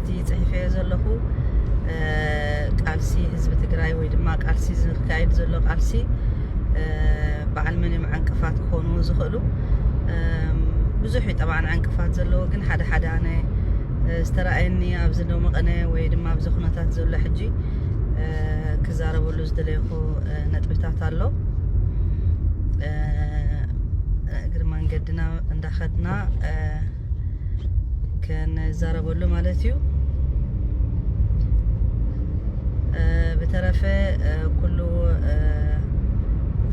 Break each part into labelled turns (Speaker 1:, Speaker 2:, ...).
Speaker 1: እቲ ጽሒፈዮ ዘለኹ ቃልሲ ህዝቢ ትግራይ ወይ ድማ ቃልሲ ዝካየድ ዘሎ ቃልሲ በዓል መን እዮም ዕንቅፋት ክኾኑ ዝኽእሉ ብዙሕ እዩ ጠብዓ ዕንቅፋት ዘለዎ ግን ሓደ ሓደ ኣነ ዝተረኣየኒ ኣብዚ ዶ መቐነ ወይ ድማ ኣብዚ ኩነታት ዘሎ ሕጂ ክዛረበሉ ዝደለይኹ ነጥብታት ኣሎ እግሪ መንገድና እንዳኸድና ክንዛረበሉ ማለት እዩ ብተረፈ ኩሉ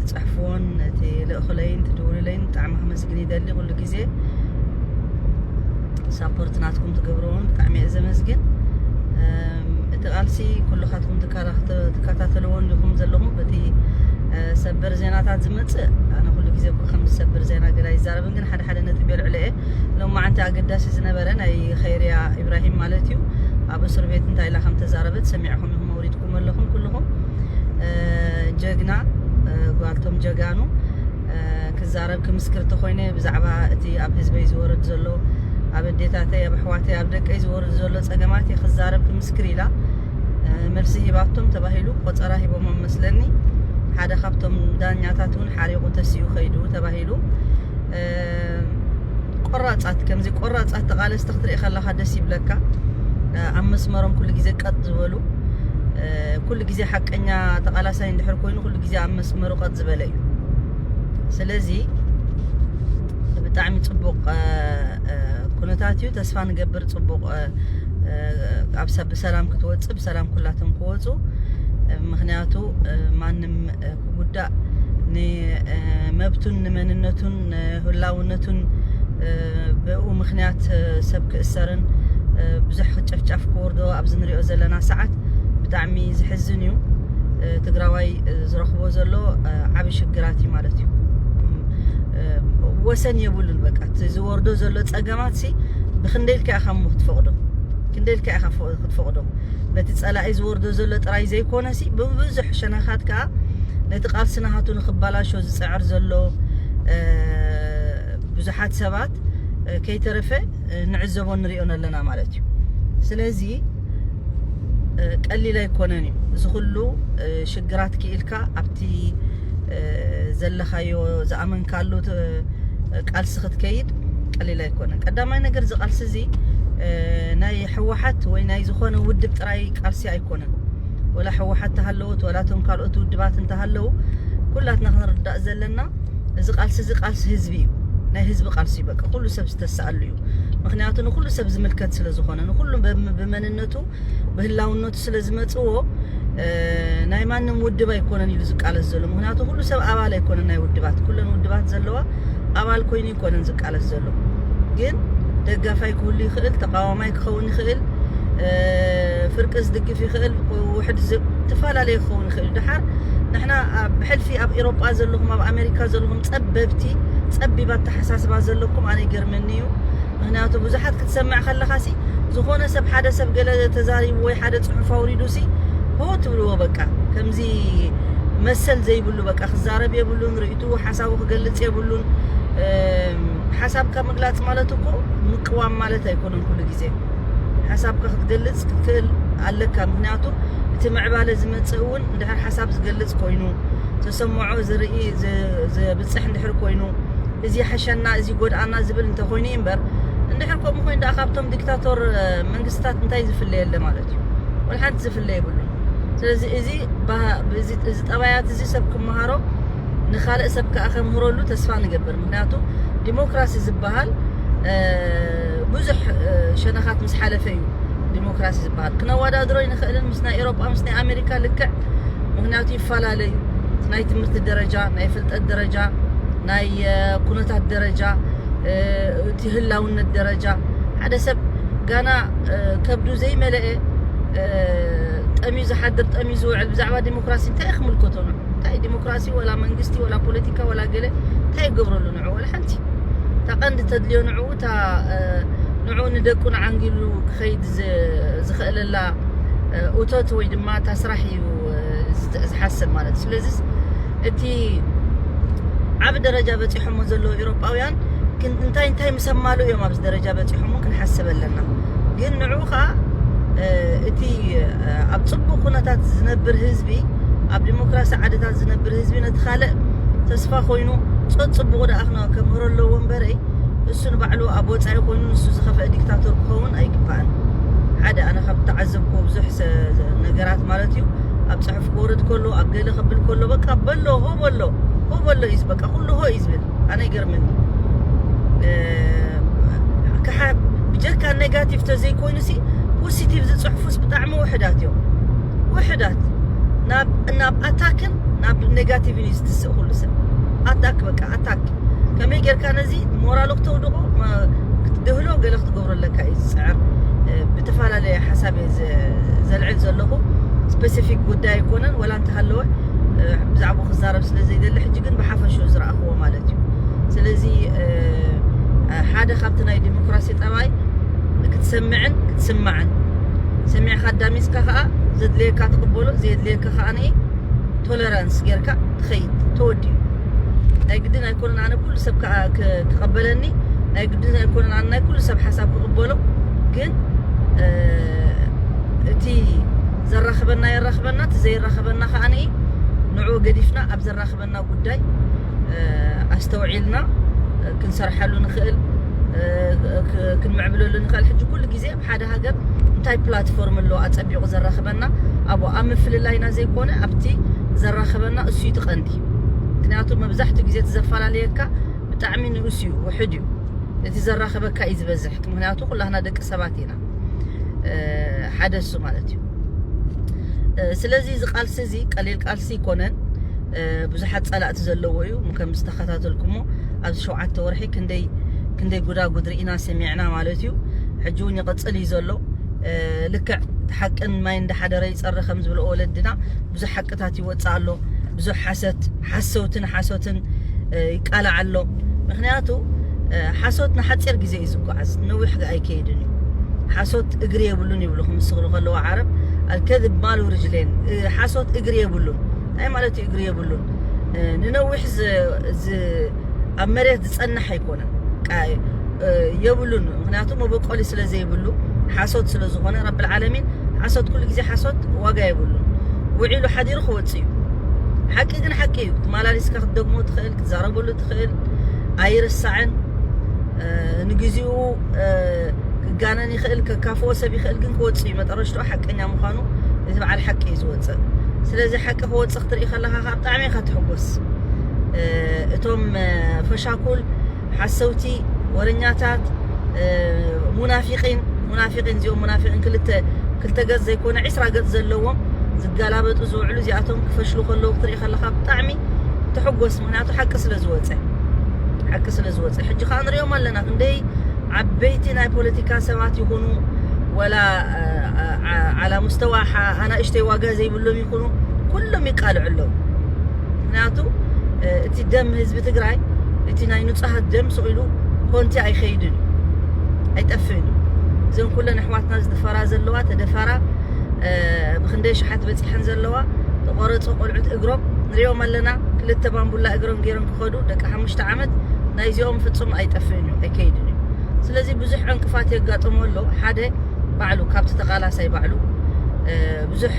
Speaker 1: ትፅሕፍዎን እቲ ልእኽለይን ትድውሉለይን ብጣዕሚ ክመስግን ይደሊ ኩሉ ግዜ ሳፖርት ናትኩም ትገብርዎን ብጣዕሚ እየ ዘመስግን እቲ ቃልሲ ኩልኻትኩም ትከታተልዎን ዲኹም ዘለኹም በቲ ሰበር ዜናታት ዝመፅእ ኣነ ኩሉ ግዜ እኮ ከም ዝሰብር ዜና ገላ ይዛረብን ግን ሓደ ሓደ ነጥቢ የልዕለ እየ ሎማዓንቲ ኣገዳሲ ዝነበረ ናይ ኸይርያ ኢብራሂም ማለት እዩ ኣብ እስር ቤት እንታይ ኢላ ከም ተዛረበት ሰሚዕኹም ኢኹም ኣውሪድኩም ኣለኹም ኩልኹም ጀግና ጓልቶም ጀጋኑ ክዛረብ ክምስክር ተኾይነ ብዛዕባ እቲ ኣብ ህዝበይ ዝወርድ ዘሎ ኣብ ኣዴታተይ ኣብ ኣሕዋተይ ኣብ ደቀይ ዝወርድ ዘሎ ፀገማት እየ ክዛረብ ክምስክር ኢላ መልሲ ሂባቶም ተባሂሉ ቆፀራ ሂቦሞም መስለኒ ሓደ ካብቶም ዳኛታት እውን ሓሪቑ ተሲኡ ከይዱ ተባሂሉ ይብሉ ቆራፃት ከምዚ ቆራፃት ተቃለስቲ ክትርኢ ከለካ ደስ ይብለካ ኣብ መስመሮም ኩሉ ግዜ ቀጥ ዝበሉ ኩሉ ግዜ ሓቀኛ ተቃላሳይ እንድሕር ኮይኑ ኩሉ ግዜ ኣብ መስመሩ ቀጥ ዝበለ እዩ ስለዚ ብጣዕሚ ፅቡቅ ኩነታት እዩ ተስፋ ንገብር ፅቡቅ ኣብ ብሰላም ክትወፅእ ብሰላም ኩላቶም ክወፁ ምክንያቱ ማንም ክጉዳእ ንመብቱን ንመንነቱን ህላውነቱን ብኡ ምክንያት ሰብ ክእሰርን ብዙሕ ጨፍጫፍ ክወርዶ ኣብዚ ንሪኦ ዘለና ሰዓት ብጣዕሚ ዝሕዝን እዩ ትግራዋይ ዝረኽቦ ዘሎ ዓብ ሽግራት እዩ ማለት እዩ ወሰን የብሉን በቃ ዝወርዶ ዘሎ ፀገማት ሲ ብክንደይ ኢልካ ኢኻ ክትፈቕዶ ክንደይ ኢልካ ኢኻ ክትፈቕዶ ነቲ ጸላኢ ዝወርዶ ዘሎ ጥራይ ዘይኮነሲ ብብዙሕ ሸነኻት ከኣ ነቲ ቃልሲ ናሃቱ ንክባላሾ ዝጽዕር ዘሎ ብዙሓት ሰባት ከይተረፈ ንዕዘቦ ንሪኦ ኣለና ማለት እዩ ስለዚ ቀሊል ኣይኮነን እዩ እዚ ኩሉ ሽግራት ክኢልካ ኣብቲ ዘለኻዮ ዝኣመንካሉ ቃልሲ ክትከይድ ቀሊል ኣይኮነን ቀዳማይ ነገር እዚ ቃልሲ እዚ ናይ ሕወሓት ወይ ናይ ዝኾነ ውድብ ጥራይ ቃልሲ ኣይኮነን። ወላ ሕወሓት ተሃለወት ወላ እቶም ካልኦት ውድባት እንተሃለው ኩላትና ክንርዳእ ዘለና እዚ ቃልሲ እዚ ቃልሲ ህዝቢ እዩ። ናይ ህዝቢ ቃልሲ እዩ። በቃ ኩሉ ሰብ ዝተሰኣሉ እዩ። ምክንያቱ ንኩሉ ሰብ ዝምልከት ስለዝኾነ ንኩሉ ብመንነቱ ብህላውነቱ ስለ ዝመጽዎ ናይ ማንም ውድብ ኣይኮነን ኢሉ ዝቃለስ ዘሎ ምክንያቱ ኩሉ ሰብ ኣባል ኣይኮነን ናይ ውድባት ኩለን ውድባት ዘለዋ ኣባል ኮይኑ ይኮነን ዝቃለስ ዘሎ ግን ደጋፋይ ክህሉ ይኽእል ተቃዋማይ ክኸውን ይኽእል ፍርቂ ዝድግፍ ይኽእል ውሕድ ዝተፈላለየ ክኸውን ይኽእል ድሓር ንሕና ብሕልፊ ኣብ ኤሮጳ ዘለኹም ኣብ ኣሜሪካ ዘለኹም ጸበብቲ ጸቢብ ኣተሓሳስባ ዘለኩም ኣነ ይገርመኒ እዩ ምክንያቱ ብዙሓት ክትሰምዕ ከለኻሲ ዝኾነ ሰብ ሓደ ሰብ ገለ ተዛሪቡ ወይ ሓደ ጽሑፍ ኣውሪዱሲ ሆ ትብልዎ በቃ ከምዚ መሰል ዘይብሉ በቃ ክዛረብ የብሉን ርእይቱ ሓሳቡ ክገልጽ የብሉን ሓሳብካ ምግላጽ ማለት እኮ ምቅዋም ማለት ኣይኮነን ኩሉ ግዜ ሓሳብካ ክትገልጽ ክትክእል ኣለካ ምክንያቱ እቲ ምዕባለ ዝመጽእ እውን እንድሕር ሓሳብ ዝገልጽ ኮይኑ ተሰምዖ ዝርኢ ዘብጽሕ እንድሕር ኮይኑ እዚ ይሐሸና እዚ ይጎድኣና ዝብል እንተ ኮይኑ እዩ እምበር እንድሕር ከምኡ ኮይኑ ደኣ ካብቶም ዲክታቶር መንግስትታት እንታይ ዝፍለ የለ ማለት እዩ ወልሓንቲ ዝፍለ የብሉን ስለዚ እዚ እዚ ጠባያት እዚ ሰብ ክመሃሮ ንካልእ ሰብ ከዓ ከምህረሉ ተስፋ ንገብር ምክንያቱ ዲሞክራሲ ዝበሃል ብዙሕ ሸነኻት ምስ ሓለፈ እዩ ዲሞክራሲ ዝበሃል ክነወዳድሮ ኣይንኽእልን ምስ ናይ ኤሮጳ ምስ ናይ ኣሜሪካ ልክዕ ምክንያቱ ይፈላለዩ ናይ ትምህርቲ ደረጃ ናይ ፍልጠት ደረጃ ናይ ኩነታት ደረጃ እቲ ህላውነት ደረጃ ሓደ ሰብ ጋና ከብዱ ዘይመለአ ጠምዩ ዝሓድር ጠምዩ ዝውዕል ብዛዕባ ዲሞክራሲ እንታይ ክምልከቶ ንዑ እንታይ ዲሞክራሲ ወላ መንግስቲ ወላ ፖለቲካ ወላ ገለ እንታይ ይገብረሉ ንዑ ወላ ሓንቲ እታ ቀንዲ ተድልዮ ንዑ እታ ንዑ ንደቁ ንዓንጊሉ ክኸይድ ዝኸእለላ እቶት ወይ ድማ እታ ስራሕ እዩ ዝሓስብ ማለት ስለዚ እቲ ዓብ ደረጃ በጺሖሞ ዘለዉ ኤሮጳውያን እንታይ እንታይ ምሰማሉ እዮም ኣብዚ ደረጃ በፂሖም ክንሓስብ ኣለና ግን ንዑ ከዓ እቲ ኣብ ፅቡቅ ኩነታት ዝነብር ህዝቢ ኣብ ዲሞክራሲ ዓድታት ዝነብር ህዝቢ ነቲ ካልእ ተስፋ ኮይኑ ፀፅቡቁ ደኣ ክምህሮ ኣለዎ እምበረይ እሱ ንባዕሉ ኣብ ወጻኢ ኮይኑ ንሱ ዝኸፈአ ዲክታቶር ክኸውን ኣይግባእን። ሓደ ኣነ ካብ ተዓዘብኮ ብዙሕ ነገራት ማለት እዩ ኣብ ጽሑፍ ክወርድ ከሎ ኣብ ገለ ክብል ከሎ በቃ በሎ ሆ በሎ ሆ በሎ እዩ በቃ ኩሉ ሆ እዩ ዝብል ኣነ ይገርመኒ ክሓ ብጀካ ኔጋቲቭ ተዘይኮይኑ ሲ ፖሲቲቭ ዝጽሕፉስ ብጣዕሚ ውሕዳት እዮም ውሕዳት ናብ ናብ ኣታክን ናብ ኔጋቲቭን እዩ ዝትስእ ኩሉ ሰብ ኣታክ በቃ ኣታክ ከመይ ጌርካ ነዚ ሞራሉ ክተውድቑ ክትድህሎ ገለ ክትገብሮ ኣለካ እዩ ዝፅዕር ብተፈላለየ ሓሳብ እየ ዘልዕል ዘለኹ ስፔሲፊክ ጉዳይ ኣይኮነን ወላ እንተሃለወ ብዛዕባ ክዛረብ ስለ ዘይደሊ ሕጂ ግን ብሓፈሹ ዝረኣኽዎ ማለት እዩ ስለዚ ሓደ ካብቲ ናይ ዲሞክራሲ ጠባይ ክትሰምዕን ክትስማዕን ሰሚዕካ ኣዳሚፅካ ከዓ ዘድልየካ ትቕበሎ ዘየድልየካ ከዓ ቶለራንስ ጌርካ ትኸይድ ተወዲኡ ናይ ግድን ኣይኮነን ኣነ ኩሉ ሰብ ክቐበለኒ ናይ ግድን ኣይኮነን ኣነ ናይ ኩሉ ሰብ ሓሳብ ክቕበሎ ግን እቲ ዘራኽበና የራኽበና እቲ ዘይራኽበና ከዓ ንዑ ገዲፍና ኣብ ዘራኽበና ጉዳይ ኣስተውዒልና ክንሰርሓሉ ንኽእል ክንምዕብለሉ ንኽእል ሕጂ ኩሉ ግዜ ሓደ ሃገር እንታይ ፕላትፎርም ኣለዎ ኣጸቢቑ ዘራኽበና ኣብኡ ኣብ ምፍልላይና ዘይኮነ ኣብቲ ዘራኽበና እሱ እዩ ትቐንዲ ምክንያቱ መብዛሕትኡ ግዜ እቲ ዘፈላለየካ ብጣዕሚ ንኡስ እዩ ውሕድ እዩ እቲ ዘራኽበካ እዩ ዝበዝሕ ምክንያቱ ኩላህና ደቂ ሰባት ኢና ሓደ እሱ ማለት እዩ ስለዚ እዚ ቃልሲ እዚ ቀሊል ቃልሲ ዘይኮነን ብዙሓት ጸላእቲ ዘለዎ እዩ ከም ዝተከታተልኩሞ ኣብዚ ሸውዓተ ወርሒ ክንደይ ክንደይ ጉዳጉድ ርኢና ሰሚዕና ማለት እዩ ሕጂ እውን ይቕጽል እዩ ዘሎ ልክዕ ሓቅን ማይ እንዳሓደረ ይጸረ ከም ዝብልኦ ወለድና ብዙሕ ሓቅታት ይወጽእ ኣሎ ብዙሕ ሓሰት ሓሰውትን ሓሶትን ይቃላዕ ኣሎ ምክንያቱ ሓሶት ንሓፂር ግዜ እዩ ዝጓዓዝ ነዊሕ ኣይከይድን እዩ ሓሶት ሓሶት እግሪ የብሉን ይብሉ ክምስክሩ ከለዉ ዓረብ ኣልከዝብ ማሉ ርጅሌን ሓሶት እግሪ የብሉን እንታይ ማለት እዩ እግሪ የብሉን ንነዊሕ ኣብ መሬት ዝፀናሕ ኣይኮነን የብሉን ምክንያቱ መበቆሊ ስለ ዘይብሉ ሓሶት ስለ ዝኾነ ረቢ ልዓለሚን ሓሶት ኩሉ ግዜ ሓሶት ዋጋ የብሉን ውዒሉ ሓዲሩ ክወፅእ እዩ ሓቂ ግን ሓቂ እዩ ትመላሊስካ ክትደግሞ ትኽእል ክትዛረበሉ ትኽእል ኣይርሳዕን ንግዚኡ ክጋነን ይኽእል ከካፍኦ ሰብ ይኽእል ግን ክወጽእ እዩ መጠረሽትኡ ሓቀኛ ምዃኑ እዚ በዓል ሓቂ እዩ ዝወጽእ ስለዚ ሓቂ ክወጽእ ክትርኢ ከለኻ ካብ ብጣዕሚ ኢኻ ትሕጎስ እቶም ፈሻኩል ሓሰውቲ ወረኛታት ሙናፊቂን ሙናፊቂን እዚኦም ሙናፊቂን ክልተ ክልተ ገጽ ዘይኮነ ዒስራ ገጽ ዘለዎም ዝጋላበጡ ዝውዕሉ እዚኣቶም ክፈሽሉ ከለዉ ክትርኢ ከለኻ ብጣዕሚ ተሕጎስ ምክንያቱ ሓቂ ስለ ዝወጸ ሓቂ ስለ ዝወጸ ሕጂ ከኣ ንሪኦም ኣለና ክንደይ ዓበይቲ ናይ ፖለቲካ ሰባት ይኹኑ ወላ ዓላ ሙስተዋ ኣናእሽተይ ዋጋ ዘይብሎም ይኹኑ ኩሎም ይቃልዑ ኣለዉ ምክንያቱ እቲ ደም ህዝቢ ትግራይ እቲ ናይ ንጹሃት ደም ስኢሉ ኮንቲ ኣይኸይድን እዩ ኣይጠፍእን እዩ እዘን ኩለን ኣሕዋትና ዝድፈራ ዘለዋ ተደፈራ ብክንደይ ኣሽሓት በጺሐን ዘለዋ ተቆረጹ ቆልዑት እግሮም ንሪኦም ኣለና ክልተ ባምቡላ እግሮም ገይሮም ክኸዱ ደቂ ሓሙሽተ ዓመት ናይዚኦም ፍጹም ኣይጠፍእን እዩ ኣይከይድን እዩ ስለዚ ብዙሕ ዕንቅፋት የጋጥሞ ኣሎ ሓደ ባዕሉ ካብቲ ተቃላሳይ ባዕሉ ብዙሕ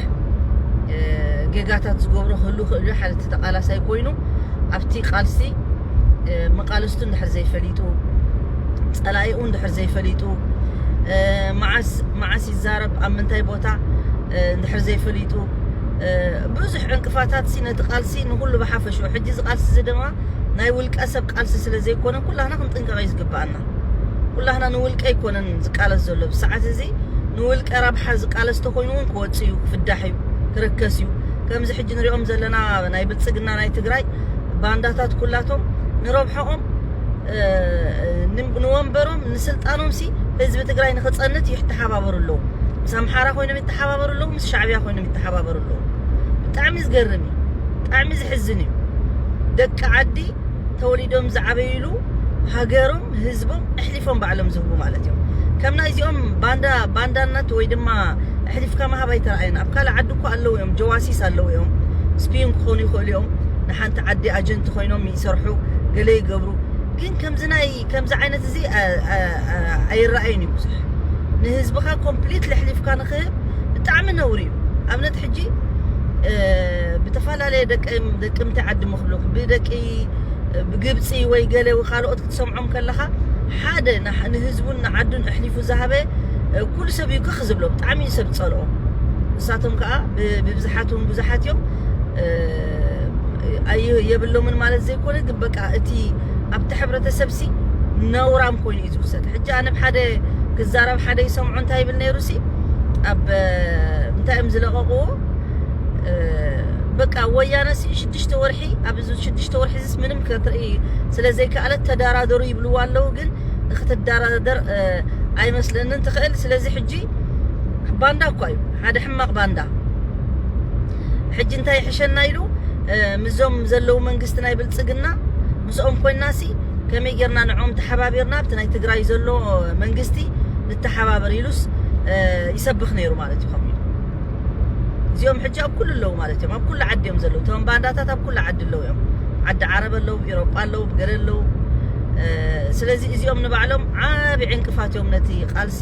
Speaker 1: ጌጋታት ዝገብሮ ክህሉ ክእሉ ሓደ እቲ ተቃላሳይ ኮይኑ ኣብቲ ቃልሲ መቃልስቱ እንድሕር ዘይፈሊጡ ፀላኢኡ እንድሕር ዘይፈሊጡ መዓስ መዓስ ይዛረብ ኣብ ምንታይ ቦታ እንድሕር ዘይፈሊጡ ብዙሕ ዕንቅፋታትሲ ነቲ ቃልሲ ንኹሉ ብሓፈሽኡ ሕጂ እዚ ቃልሲ እዚ ድማ ናይ ውልቀ ሰብ ቃልሲ ስለ ዘይኮነ ኩላህና ክንጥንቀቕ እዩ ዝግብኣና ኩላህና ንውልቀ ኣይኮነን ዝቃለስ ዘሎ ብሰዓት እዚ ንውልቀ ረብሓ ዝቃለስ ተኮይኑ እውን ክወፅእ እዩ ክፍዳሕ እዩ ክርከስ እዩ ከምዚ ሕጂ ንሪኦም ዘለና ናይ ብልፅግና ናይ ትግራይ ባንዳታት ኩላቶም ንረብሐኦም ንወንበሮም ንስልጣኖምሲ ህዝቢ ትግራይ ንክፀንት ይተሓባበሩ ኣለዉ ምስ ኣምሓራ ኮይኖም ይተሓባበሩ ኣለዉ ምስ ሻዕብያ ኮይኖም ይተሓባበሩ ኣለዉ ብጣዕሚ ዝገርም እዩ ብጣዕሚ ዝሕዝን እዩ ደቂ ዓዲ ተወሊዶም ዝዓበይሉ ሃገሮም ህዝቦም እሕሊፎም ባዕሎም ዝህቡ ማለት እዮም ከም ናይ እዚኦም ባንዳ ባንዳነት ወይ ድማ እሕሊፍካ ምሃብ ኣይተረኣየን ኣብ ካልእ ዓዲ እኮ ኣለዉ እዮም ጀዋሲስ ኣለዉ እዮም ስፒን ክኾኑ ይኽእሉ እዮም ንሓንቲ ዓዲ ኣጀንቲ ኮይኖም ይሰርሑ ገለ ይገብሩ ግን ከምዚ ናይ ከምዚ ዓይነት እዚ ኣይረኣይን እዩ ብዙሕ ንህዝብኻ ኮምፕሊት ለሕሊፍካ ንክህብ ብጣዕሚ ነውሪ እዩ ኣብነት ሕጂ ብተፈላለየ ደቂ ደቂ ምንታይ ዓዲ ምክብሉ ብደቂ ብግብፂ ወይ ገለ ወይ ካልኦት ክትሰምዖም ከለኻ ሓደ ንህዝቡን ንዓዱን ኣሕሊፉ ዝሃበ ኩሉ ሰብ እዩ ክኽ ዝብሎ ብጣዕሚ እዩ ሰብ ፀልኦ ንሳቶም ከዓ ብብዝሓት እውን ብዙሓት እዮም የብሎምን ማለት ዘይኮነ ግን በቃ እቲ ኣብቲ ሕብረተሰብሲ ነውራም ኮይኑ እዩ ዝውሰድ ሕጂ ኣነ ብሓደ ክዛረብ ሓደ ይሰምዑ እንታይ ይብል ነይሩሲ ኣብ እንታይ እዮም ዝለቐቕዎ በቃ ወያነሲ ሽዱሽተ ወርሒ ኣብ ሽዱሽተ ወርሒ ዝስ ምንም ክትርኢ ስለ ዘይከኣለት ተደራደሩ ይብልዎ ኣለዉ ግን ክትደራደር ኣይመስለንን ትኽእል ስለዚ ሕጂ ባንዳ እኳ እዩ ሓደ ሕማቕ ባንዳ ሕጂ እንታይ ይሕሸና ኢሉ ምስዞም ዘለዉ መንግስቲ ናይ ብልጽግና ምስኦም ኮይናሲ ከመይ ጌርና ንዕኦም ተሓባቢርና ኣብቲ ናይ ትግራይ ዘሎ መንግስቲ ንተሓባበር ኢሉስ ይሰብኽ ነይሩ ማለት እዩ ከምኡ እዚኦም ሕጂ ኣብ ኩሉ ኣለዉ ማለት እዮም ኣብ ኩሉ ዓዲ እዮም ዘለዉ እቶም ባንዳታት ኣብ ኩሉ ዓዲ ኣለዉ እዮም ዓዲ ዓረብ ኣለዉ ኢሮጳ ኣለዉ ብገለ ኣለዉ ስለዚ እዚኦም ንባዕሎም ዓብ ዕንቅፋት እዮም ነቲ ቃልሲ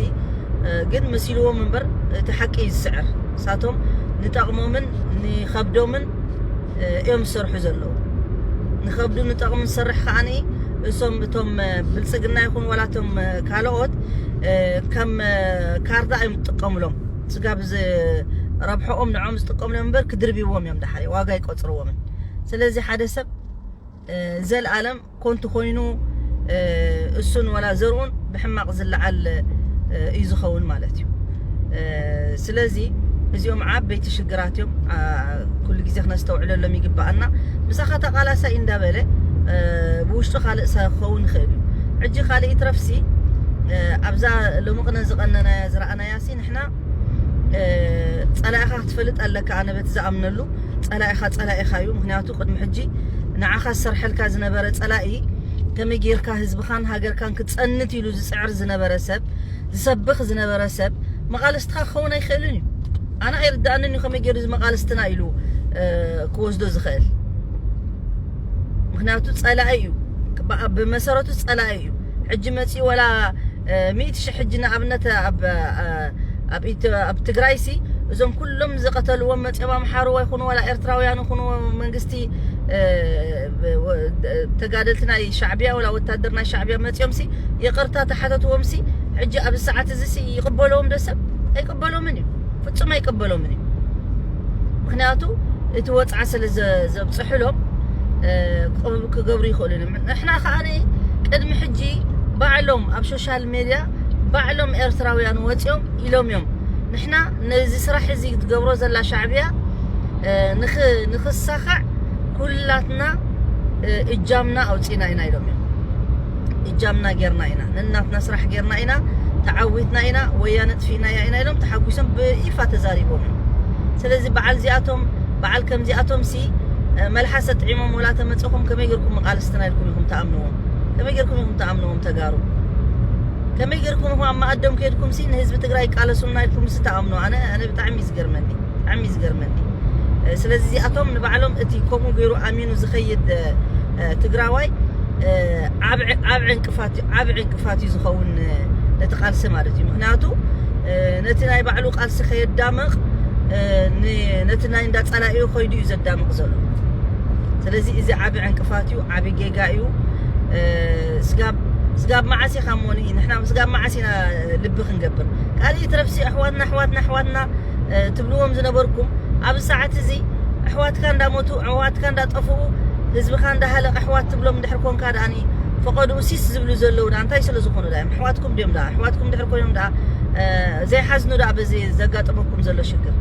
Speaker 1: ግን መሲልዎም እምበር እቲ ሓቂ እዩ ዝስዕር ንሳቶም ንጠቕሞምን ንኸብዶምን እዮም ዝሰርሑ ዘለዉ ንኸብዱ ንጠቕሚ ዝሰርሕ ከዓ እሶም እቶም ብልፅግና ይኹን ዋላ እቶም ካልኦት ከም ካርዳ እዮም ዝጥቀሙሎም ስጋብ ረብሐኦም ንዖም ዝጥቀሙሎም እምበር ክድርብዎም እዮም ዳሓሪ ዋጋ ይቆፅርዎምን ስለዚ ሓደ ሰብ ዘልኣለም ኮንቱ ኮይኑ እሱን ወላ ዘርኡን ብሕማቅ ዝለዓል እዩ ዝኸውን ማለት እዩ ስለዚ እዚኦም ዓበይቲ ሽግራት እዮም ኩሉ ግዜ ክነስተውዕለሎም ይግባኣና ምሳኻ ተቃላሳይ እንዳበለ ብውሽጡ ካልእ ሰብ ክኸውን ይኽእል እዩ ሕጂ ካልእ ይትረፍሲ ኣብዛ ሎሚ ቅነ ዝቐነናያ ዝረኣናያሲ ንሕና ፀላኢኻ ክትፈልጥ ኣለካ ኣነ በቲ ዝኣምነሉ ፀላኢኻ ፀላኢኻ እዩ ምክንያቱ ዝፈለጡ ቅድሚ ሕጂ ንዓኻ ዝሰርሐልካ ዝነበረ ጸላኢ ከመይ ጌርካ ህዝብኻን ሃገርካን ክጸንት ኢሉ ዝጽዕር ዝነበረ ሰብ ዝሰብኽ ዝነበረ ሰብ መቓልስትኻ ክኸውን ኣይክእልን እዩ ኣነ ኣይርዳእንን እዩ ከመይ ጌሩ ዝመቓልስትና ኢሉ ክወስዶ ዝኽእል ምክንያቱ ጸላኢ እዩ ብመሰረቱ ጸላኢ እዩ ሕጂ መጺኡ ወላ ሚእቲ ሽሕ ሕጂ ንኣብነት ኣብ ትግራይሲ እዞም ኩሎም ዝቀተልዎም መጽዮም ኣምሓሩ ወይ ኩኑ ዋላ ኤርትራውያን ይኹኑ መንግስቲ ተጋደልቲ ናይ ሻዕብያ ወላ ወታደር ናይ ሻዕብያ መጽዮምሲ ይቅርታ ተሓተትዎምሲ ሕጂ ኣብዚ ሰዓት እዚሲ ይቅበለዎም ዶ ሰብ ኣይቅበሎምን እዩ ፍጹም ኣይቅበሎምን እዩ ምክንያቱ እቲ ወፅዓ ስለ ዘብፅሕሎም ክገብሩ ይኽእሉ እዮም ንሕና ከዓ ቅድሚ ሕጂ ባዕሎም ኣብ ሶሻል ሜድያ ባዕሎም ኤርትራውያን ወፅኦም ኢሎም እዮም ንሕና ነዚ ስራሕ እዚ ትገብሮ ዘላ ሻዕብያ ንክ ንክሳኻዕ ኩላትና እጃምና ኣውጺና ኢና ኢሎም እዮም እጃምና ጌርና ኢና ንናትና ስራሕ ጌርና ኢና ተዓዊትና ኢና ወያነ ጥፊእናያ ኢና ኢሎም ተሓጒሶም ብይፋ ተዛሪቦም እዮም ስለዚ በዓል እዚኣቶም በዓል ከምዚኣቶም ሲ መልሓሰ ጥዒሞም ወላ ተመፀኹም ከመይ ጌርኩም መቃልስትና ኢልኩም ኢኹም ተኣምንዎም ከመይ ጌርኩም ኢኹም ተኣምንዎም ተጋሩ ከመይ ገርኩም እኹም ኣብ መኣዶም ከድኩም ሲ ንህዝቢ ትግራይ ይቃለሱልና ኢልኩም ሲ ትኣምኑ ኣነ ኣነ ብጣዕሚ እዩ ዝገርመኒ ብጣዕሚ እዩ ዝገርመኒ ስለዚ እዚኣቶም ንባዕሎም እቲ ከምኡ ገይሩ ኣሚኑ ዝኸይድ ትግራዋይ ዓብ ዕንቅፋት እዩ ዓብ ዕንቅፋት እዩ ዝኸውን ነቲ ቃልሲ ማለት እዩ ምክንያቱ ነቲ ናይ ባዕሉ ቃልሲ ከየዳምቕ ነቲ ናይ እንዳ ጸላኢኡ ከይዱ እዩ ዘዳምቕ ዘሎ ስለዚ እዚ ዓብ ዕንቅፋት እዩ ዓብ ጌጋ እዩ ስጋብ ስጋብ መዓስ ኢኻ እሞ ንሕና ስጋብ መዓስ ኢና ልቢ ክንገብር ካልእ ይትረፍሲ ኣሕዋትና ኣሕዋትና ኣሕዋትና ትብልዎም ዝነበርኩም ኣብዚ ሰዓት እዚ ኣሕዋትካ እንዳሞቱ ኣሕዋትካ እንዳጠፍኡ ህዝብኻ እንዳሃለቀ ኣሕዋት ትብሎም እንድሕር ኮንካ ደኣኒ ፈቐድኡ ሲስ ዝብሉ ዘለዉ ደኣ እንታይ ስለ ዝኾኑ ደኣ ኣሕዋትኩም ድዮም ደኣ ኣሕዋትኩም እንድሕር ኮይኖም ደኣ ዘይሓዝኑ ደኣ በዚ ዘጋጠመኩም ዘሎ ሽግር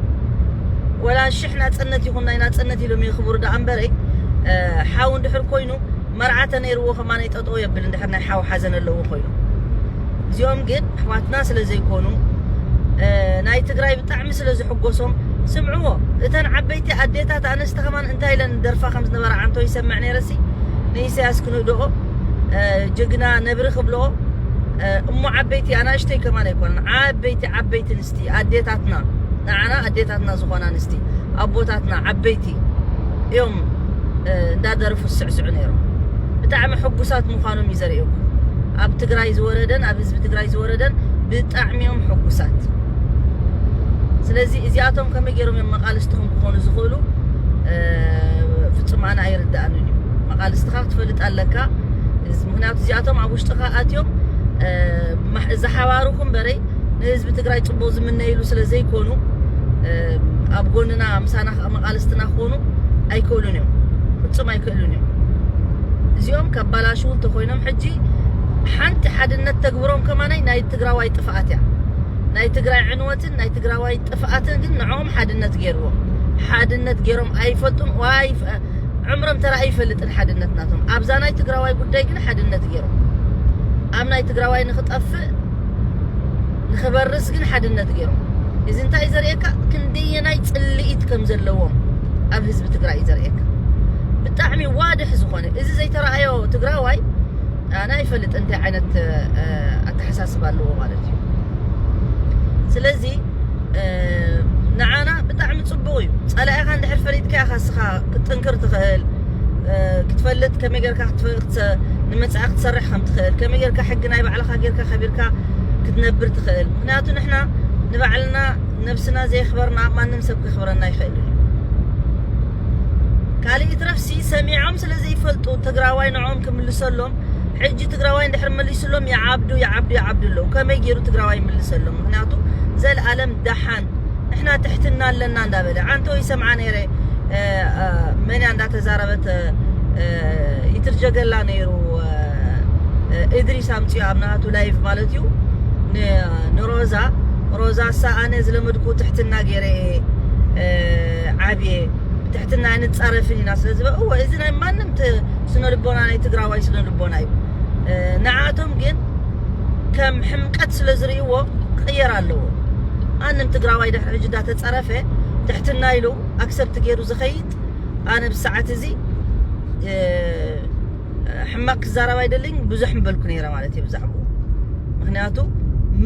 Speaker 1: ወላ ሽሕ ናጽነት ይኹን ናይ ናጽነት ኢሎም የኽብሩ ደኣ እምበረይ ሓው እንድሕር ኮይኑ መርዓ ተነይርዎ ከማነይ ጠጠው የብል እንድሕር ናይ ሓው ሓዘን ኣለዎ ኮይኑ እዚኦም ግን ኣሕዋትና ስለ ዘይኮኑ ናይ ትግራይ ብጣዕሚ ስለ ዝሕጎሶም ስምዕዎ እተን ዓበይቲ ኣዴታት ኣንስቲ ከማን እንታይ ኢለን ደርፋ ከም ዝነበራ ዓንቶ ይሰምዕ ነይረሲ ንኢሳያስ ክንህድኦ ጀግና ነብሪ ክብልኦ እሞ ዓበይቲ ኣናእሽተይ ከማን ኣይኮነን ዓበይቲ ዓበይቲ ኣንስቲ ኣዴታትና ንዓና ኣዴታትና ዝኾና ኣንስቲ ኣቦታትና ዓበይቲ እዮም እንዳደርፉ ዝስዕስዑ ነይሮም ብጣዕሚ ሕጉሳት ምዃኖም እዩ ዘርእየኩም ኣብ ትግራይ ዝወረደን ኣብ ህዝቢ ትግራይ ዝወረደን ብጣዕሚ እዮም ሕጉሳት ስለዚ እዚኣቶም ከመይ ገይሮም እዮም መቃልስትኹም ክኾኑ ዝኽእሉ ፍጹም ኣነ ኣይርድኣንን እዩ መቃልስትኻ ክትፈልጥ ኣለካ ምክንያቱ እዚኣቶም ኣብ ውሽጥኻ ኣትዮም ዝሓባሩኹም በረይ ንህዝቢ ትግራይ ፅቡቅ ዝምነይሉ ስለ ዘይኮኑ ኣብ ጎንና ምሳና ተቐማቓልስትና ክኾኑ ኣይክእሉን እዮም ፍጹም ኣይክእሉን እዮም እዚኦም ከባላሽው እንተኾይኖም ሕጂ ሓንቲ ሓድነት ተግብሮም ከማናይ ናይ ትግራዋይ ጥፍኣት እያ ናይ ትግራይ ዕንወትን ናይ ትግራዋይ ጥፍኣትን ግን ንዕኦም ሓድነት ገይርዎ ሓድነት ገይሮም ኣይፈልጡን ዋይ ዕምሮም ተራ ኣይፈልጥን ሓድነት ናቶም ኣብዛ ናይ ትግራዋይ ጉዳይ ግን ሓድነት ገይሮም ኣብ ናይ ትግራዋይ ንክጠፍእ ንኽበርስ ግን ሓድነት ገይሮም። እዚ እንታይ እዩ ዘርእየካ ክንደየናይ ጽልኢት ከም ዘለዎም ኣብ ህዝቢ ትግራይ እዩ ዘርእየካ። ብጣዕሚ ዋድሕ ዝኾነ እዚ ዘይተረኣዮ ትግራዋይ ኣነ ኣይፈልጥ እንታይ ዓይነት ኣተሓሳስባ ኣለዎ ማለት እዩ። ስለዚ ንዓና ብጣዕሚ ጽቡቕ እዩ። ጸላኢኻ እንድሕር ፈሊጥካ ኢኻ እስኻ ክትጥንክር ትኽእል ክትፈልጥ ከመይ ጌርካ ንመጻኢ ክትሰርሕ ከም ትኽእል ከመይ ጌርካ ሕጊ ናይ ባዕልኻ ብናፍቖትካ ጌርካ ከቢርካ ክትነብር ትኽእል ምኽንያቱ ንሕና ንባዕልና ነብስና ዘየኽበርና ማንም ሰብ ከኽብረና ይኽእል እዩ ካልእ ይትረፍሲ ሰሚዖም ስለ ዘይፈልጡ ትግራዋይ ንዕኦም ክምልሰሎም ሕጂ ትግራዋይ እንድሕር መሊሱሎም ይዓብዱ ይዓብዱ ይዓብዱ ኣለዉ ከመይ ገይሩ ትግራዋይ ይምልሰሎም ምኽንያቱ ዘልኣለም ደሓን ንሕና ትሕትና ኣለና እንዳበለ ዓንተው ይሰምዓ ነይረ መንያ እንዳተዛረበት ይትርጀገላ ነይሩ እድሪስ ኣምፅኦ ኣብ ናቱ ላይቭ ማለት እዩ ንሮዛ ሮዛ ሳ ኣነ ዝለመድኩ ትሕትና ገይረ ዓብየ ትሕትና ኣይንፃረፍን ኢና ስለ ዝበ እወ እዚ ናይ ማንም ስነ ልቦና ናይ ትግራዋይ ስነ ልቦና እዩ ንዓቶም ግን ከም ሕምቀት ስለ ዝርእይዎ ክቕየር ኣለዎ። ማንም ትግራዋይ ድሕሪ ሕጂ እንዳተጸረፈ ትሕትና ኢሉ ኣክሰፕት ገይሩ ዝኸይድ ኣነ ብሰዓት እዚ ሕማቅ ክዛረብ ኣይደልን ብዙሕ ምበልኩ ነይረ ማለት እዩ ብዛዕባኡ ምክንያቱ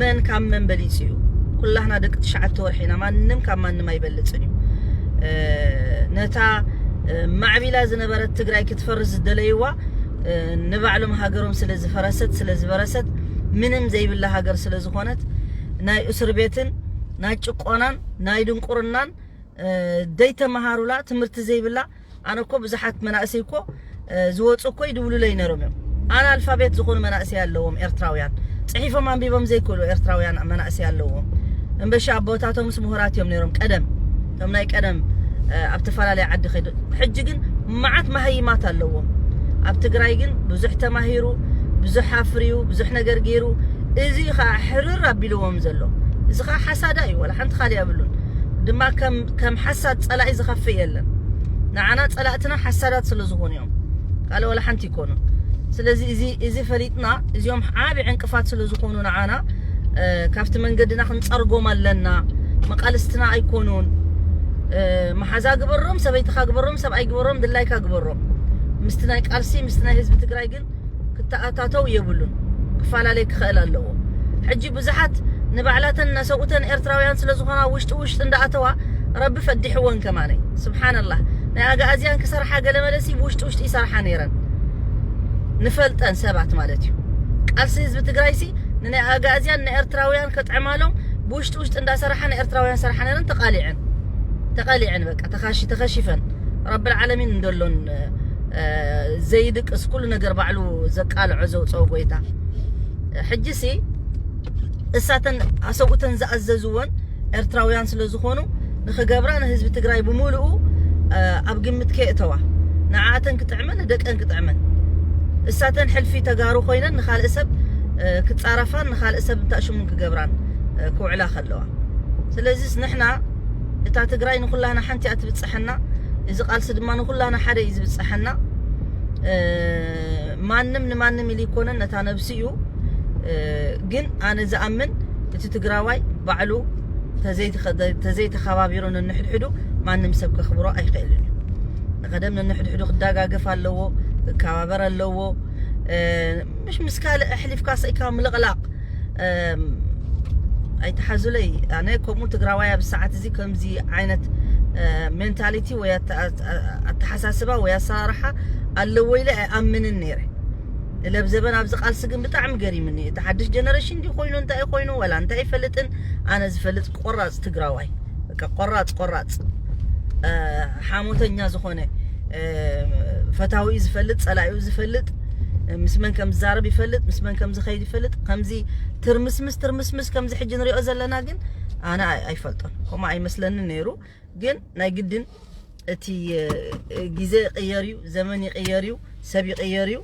Speaker 1: መን ካብ መን በሊጹ እዩ ኩላህና ደቂ ትሽዓተ ወርሒ ኢና ማንም ካብ ማንም ኣይበልጽን እዩ ነታ ማዕቢላ ዝነበረት ትግራይ ክትፈርስ ዝደለይዋ ንባዕሎም ሃገሮም ስለ ዝፈረሰት ስለ ዝበረሰት ምንም ዘይብላ ሃገር ስለ ዝኾነት ናይ እስር ቤትን ናይ ጭቆናን ናይ ድንቁርናን ዘይተመሃሩላ ትምህርቲ ዘይብላ ኣነ እኮ ብዙሓት መናእሰይ እኮ ዝወፁ እኮ ይድውሉለይ ነይሮም እዮም ኣነ ኣልፋቤት ዝኾኑ መናእሰይ ኣለዎም ኤርትራውያን ፅሒፎም ኣንቢቦም ዘይክእሉ ኤርትራውያን መናእሰይ ኣለዎም እምበሻ ኣቦታቶምስ ምሁራት እዮም ነይሮም ቀደም እቶም ናይ ቀደም ኣብ ተፈላለየ ዓዲ ከይዱ ሕጂ ግን ማዓት ማሃይማት ኣለዎ ኣብ ትግራይ ግን ብዙሕ ተማሂሩ ብዙሕ ኣፍርዩ ብዙሕ ነገር ገይሩ እዚ እዩ ካዓ ሕርር ኣቢልዎም ዘሎ እዚ ካዓ ሓሳዳ እዩ ዋላ ሓንቲ ካሊእ ኣብሉን ድማ ከም ሓሳድ ፀላኢ ዝከፍእ የለን ናዓና ፀላእትና ሓሳዳት ስለ ዝኮኑ እዮም ካልእ ዋላ ሓንቲ ኣይኮኑን ስለዚ እዚ እዚ ፈሊጥና እዚኦም ዓቢ ዕንቅፋት ስለ ዝኾኑ ንዓና ካብቲ መንገድና ክንጸርጎም ኣለና መቃልስትና ኣይኮኑን መሓዛ ግበሮም ሰበይትኻ ግበሮም ሰብኣይ ግበሮም ድላይካ ግበሮም ምስቲ ናይ ቃልሲ ምስቲ ናይ ህዝቢ ትግራይ ግን ክተኣታተው የብሉን ክፈላለይ ክኽእል ኣለዎ ሕጂ ብዙሓት ንባዕላተን እናሰውእተን ኤርትራውያን ስለ ዝኾና ውሽጢ ውሽጢ እንዳኣተዋ ረቢ ፈዲሕወን ከማነይ ስብሓነላህ ናይ ኣግኣዝያን ክሰርሓ ገለመለሲ ብውሽጢ ውሽጢ ይሰርሓ ነይረን ንፈልጠን ሰባት ማለት እዩ ቃልሲ ህዝቢ ትግራይሲ ንናይ ኣግኣዝያን ንኤርትራውያን ከጥዕማሎም ብውሽጢ ውሽጢ እንዳሰርሓ ንኤርትራውያን ሰርሓ ነይረን ተቃሊዐን ተቀሊዐን በቃ ተኻሺ ተኸሺፈን ረቢ ልዓለሚን እንደሎን ዘይድቅስ ኩሉ ነገር ባዕሉ ዘቃልዖ ዘውፀኦ ጎይታ ሕጂሲ እሳተን ኣሰብኡተን ዝኣዘዝወን ኤርትራውያን ስለ ዝኾኑ ንኽገብራ ንህዝቢ ትግራይ ብምሉኡ ኣብ ግምት ከየእተዋ ንዓኣተን ክጥዕመን ንደቀን ክጥዕመን እሳተን ሕልፊ ተጋሩ ኮይነን ንኻልእ ሰብ ክጻረፋን ንኻልእ ሰብ እንታሽሙን ክገብራን ክውዕላ ከለዋ ስለዚስ ንሕና እታ ትግራይ ንኹላና ሓንቲ እያ ትብጽሐና እዚ ቃልሲ ድማ ንኹላና ሓደ እዩ ዝብጽሐና ማንም ንማንም ኢሉ ኣይኮነን ነታ ነብሲ እዩ ግን ኣነ ዝኣምን እቲ ትግራዋይ ባዕሉ ተዘይተኸባቢሩ ንንሕድሕዱ ማንም ሰብ ከኽብሮ ኣይኽእልን እዩ ንቀደም ንንሕድሕዱ ክደጋገፍ ኣለዎ ክከባበር ኣለዎ ምሽ ምስ ካልእ ኣሕሊፍካ ስኢካ ምልቕላቕ ኣይተሓዙለይ ኣነ ከምኡ ትግራዋይ ኣብ ሰዓት እዚ ከምዚ ዓይነት ሜንታሊቲ ወይ ኣተሓሳስባ ወይ ኣሰራርሓ ኣለዎ ኢለ ኣይኣምንን ነይረ ለብዘበን ኣብዚ ቃልሲ ግን ብጣዕሚ ገሪምኒ እዩ እቲ ሓድሽ ጀነሬሽን እንዲ ኮይኑ እንታይ ኮይኑ ወላ እንታይ ይፈልጥን ኣነ ዝፈልጥ ቆራፅ ትግራዋይ በቃ ቆራፅ ቆራፅ ሓሞተኛ ዝኾነ ፈታዊኡ ዝፈልጥ ፀላኢኡ ዝፈልጥ ምስ መን ከም ዝዛረብ ይፈልጥ ምስ መን ከም ዝኸይድ ይፈልጥ ከምዚ ትርምስምስ ትርምስምስ ከምዚ ሕጂ ንሪኦ ዘለና ግን ኣነ ኣይፈልጦን ከምኡ ኣይመስለንን ነይሩ ግን ናይ ግድን እቲ ግዜ ይቕየር እዩ፣ ዘመን ይቕየር እዩ፣ ሰብ ይቕየር እዩ።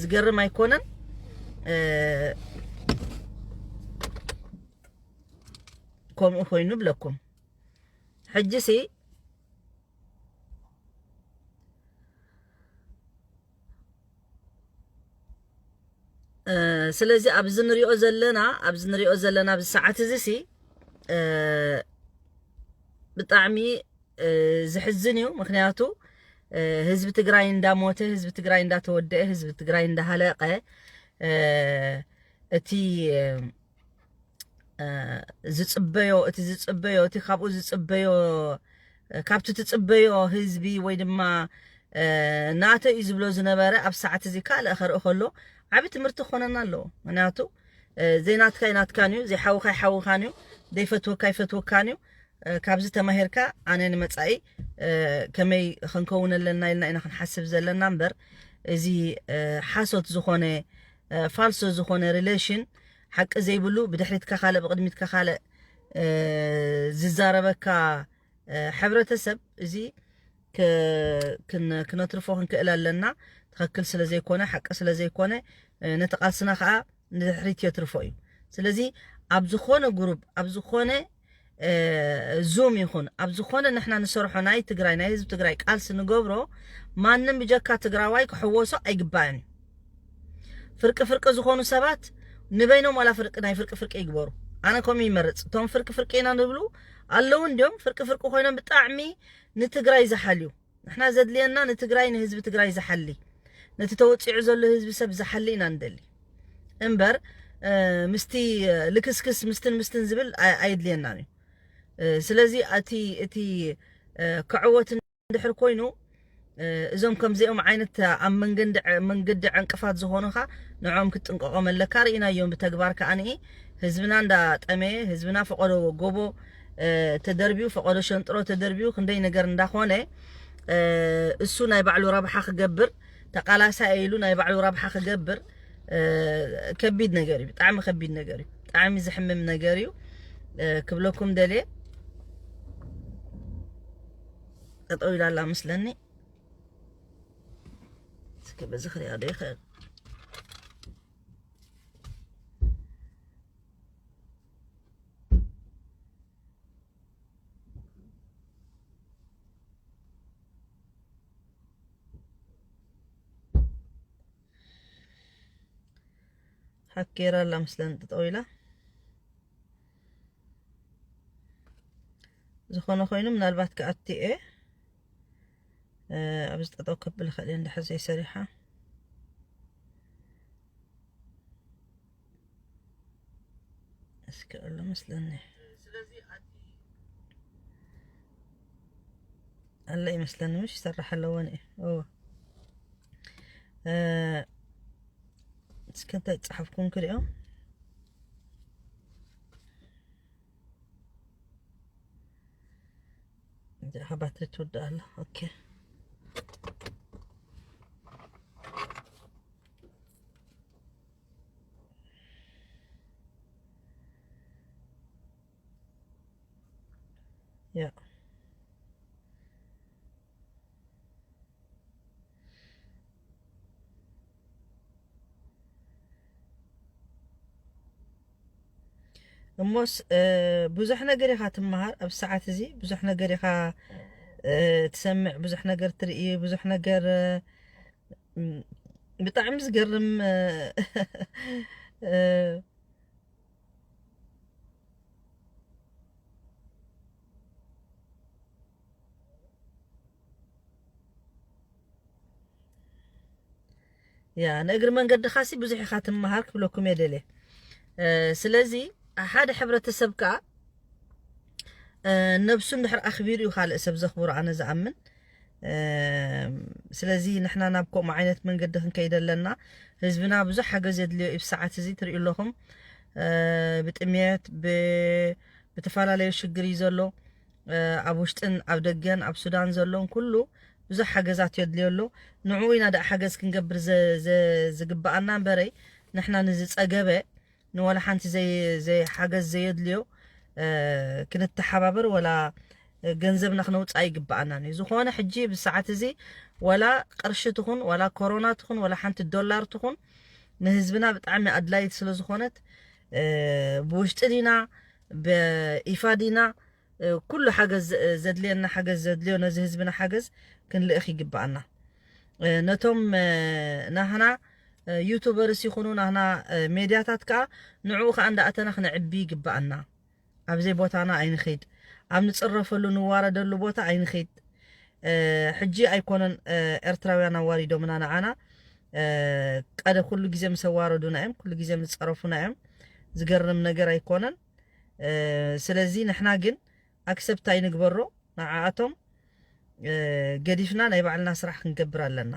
Speaker 1: ዝገርም ኣይኮነን። ከምኡ ኮይኑ ብለኩም ሕጂ ሲ ስለዚ ኣብዚ ንሪኦ ዘለና ኣብዚ ንሪኦ ዘለና ኣብዚ ሰዓት እዚ ሲ ብጣዕሚ ዝሕዝን እዩ ምክንያቱ ህዝቢ ትግራይ እንዳሞተ ህዝቢ ትግራይ እንዳተወደአ ህዝቢ ትግራይ እንዳሃለቀ እቲ ዝፅበዮ እቲ ዝፅበዮ እቲ ካብኡ ዝፅበዮ ካብቲ ትፅበዮ ህዝቢ ወይ ድማ ናተ እዩ ዝብሎ ዝነበረ ኣብ ሰዓት እዚ ካልእ ከርኢ ከሎ ዓብ ትምህርቲ ክኾነና ኣለዎ ምክንያቱ ዘይናትካ ይናትካን እዩ ዘይሓውካ ይሓውካን እዩ ዘይፈትወካ ይፈትወካን እዩ ካብዚ ተማሂርካ ኣነ ንመፃኢ ከመይ ክንከውን ኣለና ኢልና ኢና ክንሓስብ ዘለና እምበር እዚ ሓሶት ዝኾነ ፋልሶ ዝኾነ ሪሌሽን ሓቂ ዘይብሉ ብድሕሪትካ ካልእ ብቕድሚትካ ካልእ ዝዛረበካ ሕብረተሰብ እዚ ክነትርፎ ክንክእል ኣለና ትኽክል ስለ ዘይኮነ ሓቂ ስለ ዘይኮነ ነቲ ቃልስና ከዓ ንድሕሪት የትርፎ እዩ ስለዚ ኣብ ዝኾነ ጉሩብ ኣብ ዝኾነ ዙም ይኹን ኣብ ዝኾነ ንሕና ንሰርሖ ናይ ትግራይ ናይ ህዝቢ ትግራይ ቃልሲ ንገብሮ ማንም ብጀካ ትግራዋይ ክሕወሶ ኣይግባእን እዩ ፍርቂ ፍርቂ ዝኾኑ ሰባት ንበይኖም ዋላ ፍርቂ ናይ ፍርቂ ፍርቂ ይግበሩ ኣነ ከምኡ ይመርፅ እቶም ፍርቂ ፍርቂ ኢና ንብሉ ኣለዉ እንዲዮም ፍርቂ ፍርቂ ኮይኖም ብጣዕሚ ንትግራይ ዝሓልዩ ንሕና ዘድልየና ንትግራይ ንህዝቢ ትግራይ ዝሓሊ ነቲ ተወፂዑ ዘሎ ህዝቢ ሰብ ዝሓሊ ኢና ንደሊ እምበር ምስቲ ልክስክስ ምስትን ምስትን ዝብል ኣየድልየናን እዩ ስለዚ እቲ እቲ ክዕወት እንድሕር ኮይኑ እዞም ከምዚኦም ዓይነት ኣብ መንገዲ መንገዲ ዕንቅፋት ዝኾኑኻ ንዕኦም ክትጥንቀቖም ኣለካ ርኢናዮም ብተግባር ከዓንኢ ህዝብና እንዳጠመየ ህዝብና ፈቐዶ ጎቦ ተደርብዩ ፈቀዶ ሸንጥሮ ተደርብዩ ክንደይ ነገር እንዳኾነ እሱ ናይ ባዕሉ ረብሓ ክገብር ተቃላሳይ ኢሉ ናይ ባዕሉ ረብሓ ክገብር ከቢድ ነገር እዩ ብጣዕሚ ከቢድ ነገር እዩ ብጣዕሚ ዝሕምም ነገር እዩ ክብለኩም ደልየ ጠጠው ኢላ ኣላ ምስለኒ እስኪ በዚ ክሪኣ ዶ ይኽእል ሓኬራ ኣላ ምስለን ጠጠው ኢላ ዝኾነ ኮይኑ ምናልባት ክኣቲ እየ ኣብዚ ጠጠው ከብል ኸእል እንድሕር ዘይሰሪሓ እስኪ ኣሎ መስለኒ ኣሎ ይመስለኒ ምሽ ይሰራሕ ኣለዎን እዩ እስከ እንታይ ጸሓፍኩም ክሪኦ እንጀራ ባትሪ ትውዳእ ኣላ ኦኬ Ja. እሞስ ብዙሕ ነገር ኢኻ ትመሃር ኣብ ሰዓት እዚ ብዙሕ ነገር ኢኻ ትሰምዕ ብዙሕ ነገር ትርኢ ብዙሕ ነገር ብጣዕሚ ዝገርም ያ ንእግሪ መንገድኻ ሲ ብዙሕ ኢኻ ትመሃር ክብለኩም እየ ደልየ ስለዚ ሓደ ሕብረተሰብ ከዓ ነብሱ እንድሕር ኣኽቢሩ እዩ ካልእ ሰብ ዘኽብሮ ኣነ ዝኣምን ስለዚ ንሕና ናብ ከምኡ ዓይነት መንገዲ ክንከይድ ኣለና ህዝብና ብዙሕ ሓገዝ የድልዮ እዩ ሰዓት እዚ ትሪኡ ኣለኹም ብጥሜት ብተፈላለዩ ሽግር እዩ ዘሎ ኣብ ውሽጥን ኣብ ደገን ኣብ ሱዳን ዘሎን ኩሉ ብዙሕ ሓገዛት የድልዮ ኣሎ ንዕኡ ኢና ደኣ ሓገዝ ክንገብር ዝግብኣና እምበረይ ንሕና ንዝፀገበ ንወላ ሓንቲ ዘይ ሓገዝ ዘየድልዮ ክንተሓባበር ወላ ገንዘብና ክነውፃእ ይግብኣና እዩ ዝኾነ ሕጂ ብሰዓት እዚ ወላ ቅርሺ ትኹን ወላ ኮሮና ትኹን ወላ ሓንቲ ዶላር ትኹን ንህዝብና ብጣዕሚ ኣድላይት ስለ ዝኾነት ብውሽጢ ዲና ብኢፋ ዲና ኩሉ ሓገዝ ዘድልየና ሓገዝ ዘድልዮ ነዚ ህዝብና ሓገዝ ክንልእኽ ይግብኣና ነቶም ናህና ዩቱበርስ ይኹኑ ናህና ሜድያታት ከዓ ንዕኡ ከዓ እንዳእተና ክነዕቢ ይግብኣና ኣብዘይ ቦታና ኣይንኸይድ ኣብ ንፅረፈሉ ንዋረደሉ ቦታ ኣይንኸይድ ሕጂ ኣይኮነን ኤርትራውያን ኣዋሪዶምና ንዓና ቀደ ኩሉ ግዜ ምስ ኣዋረዱና እዮም ኩሉ ግዜ ምስ ፀረፉና እዮም ዝገርም ነገር ኣይኮነን ስለዚ ንሕና ግን ኣክሰብት ኣይንግበሮ ንዓኣቶም ገዲፍና ናይ ባዕልና ስራሕ ክንገብር ኣለና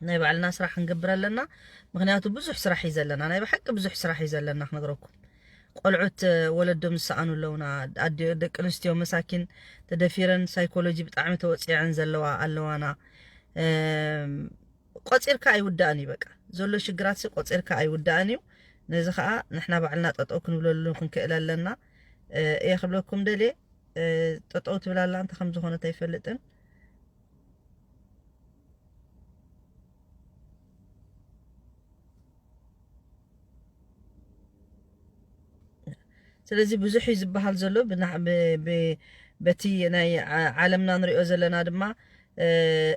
Speaker 1: ናይ ባዕልና ስራሕ ክንገብር ኣለና ምክንያቱ ብዙሕ ስራሕ እዩ ዘለና ናይ ብሓቂ ብዙሕ ስራሕ እዩ ዘለና ክነግረኩም ቆልዑት ወለዶም ዝሰኣኑ ኣለውና ደቂ ኣንስትዮ መሳኪን ተደፊረን ሳይኮሎጂ ብጣዕሚ ተወፂዐን ዘለዋ ኣለዋና ቆጺርካ ኣይውዳእን እዩ በቃ ዘሎ ሽግራትሲ ቆጺርካ ኣይውዳእን እዩ ነዚ ከኣ ንሕና ባዕልና ጠጠው ክንብለሉ ክንክእል ኣለና እየ ክብለኩም ደልየ ጠጠው ትብል ኣላ እንተ ከም ዝኾነት ኣይፈልጥን ስለዚ ብዙሕ እዩ ዝበሃል ዘሎ በቲ ናይ ዓለምና ንሪኦ ዘለና ድማ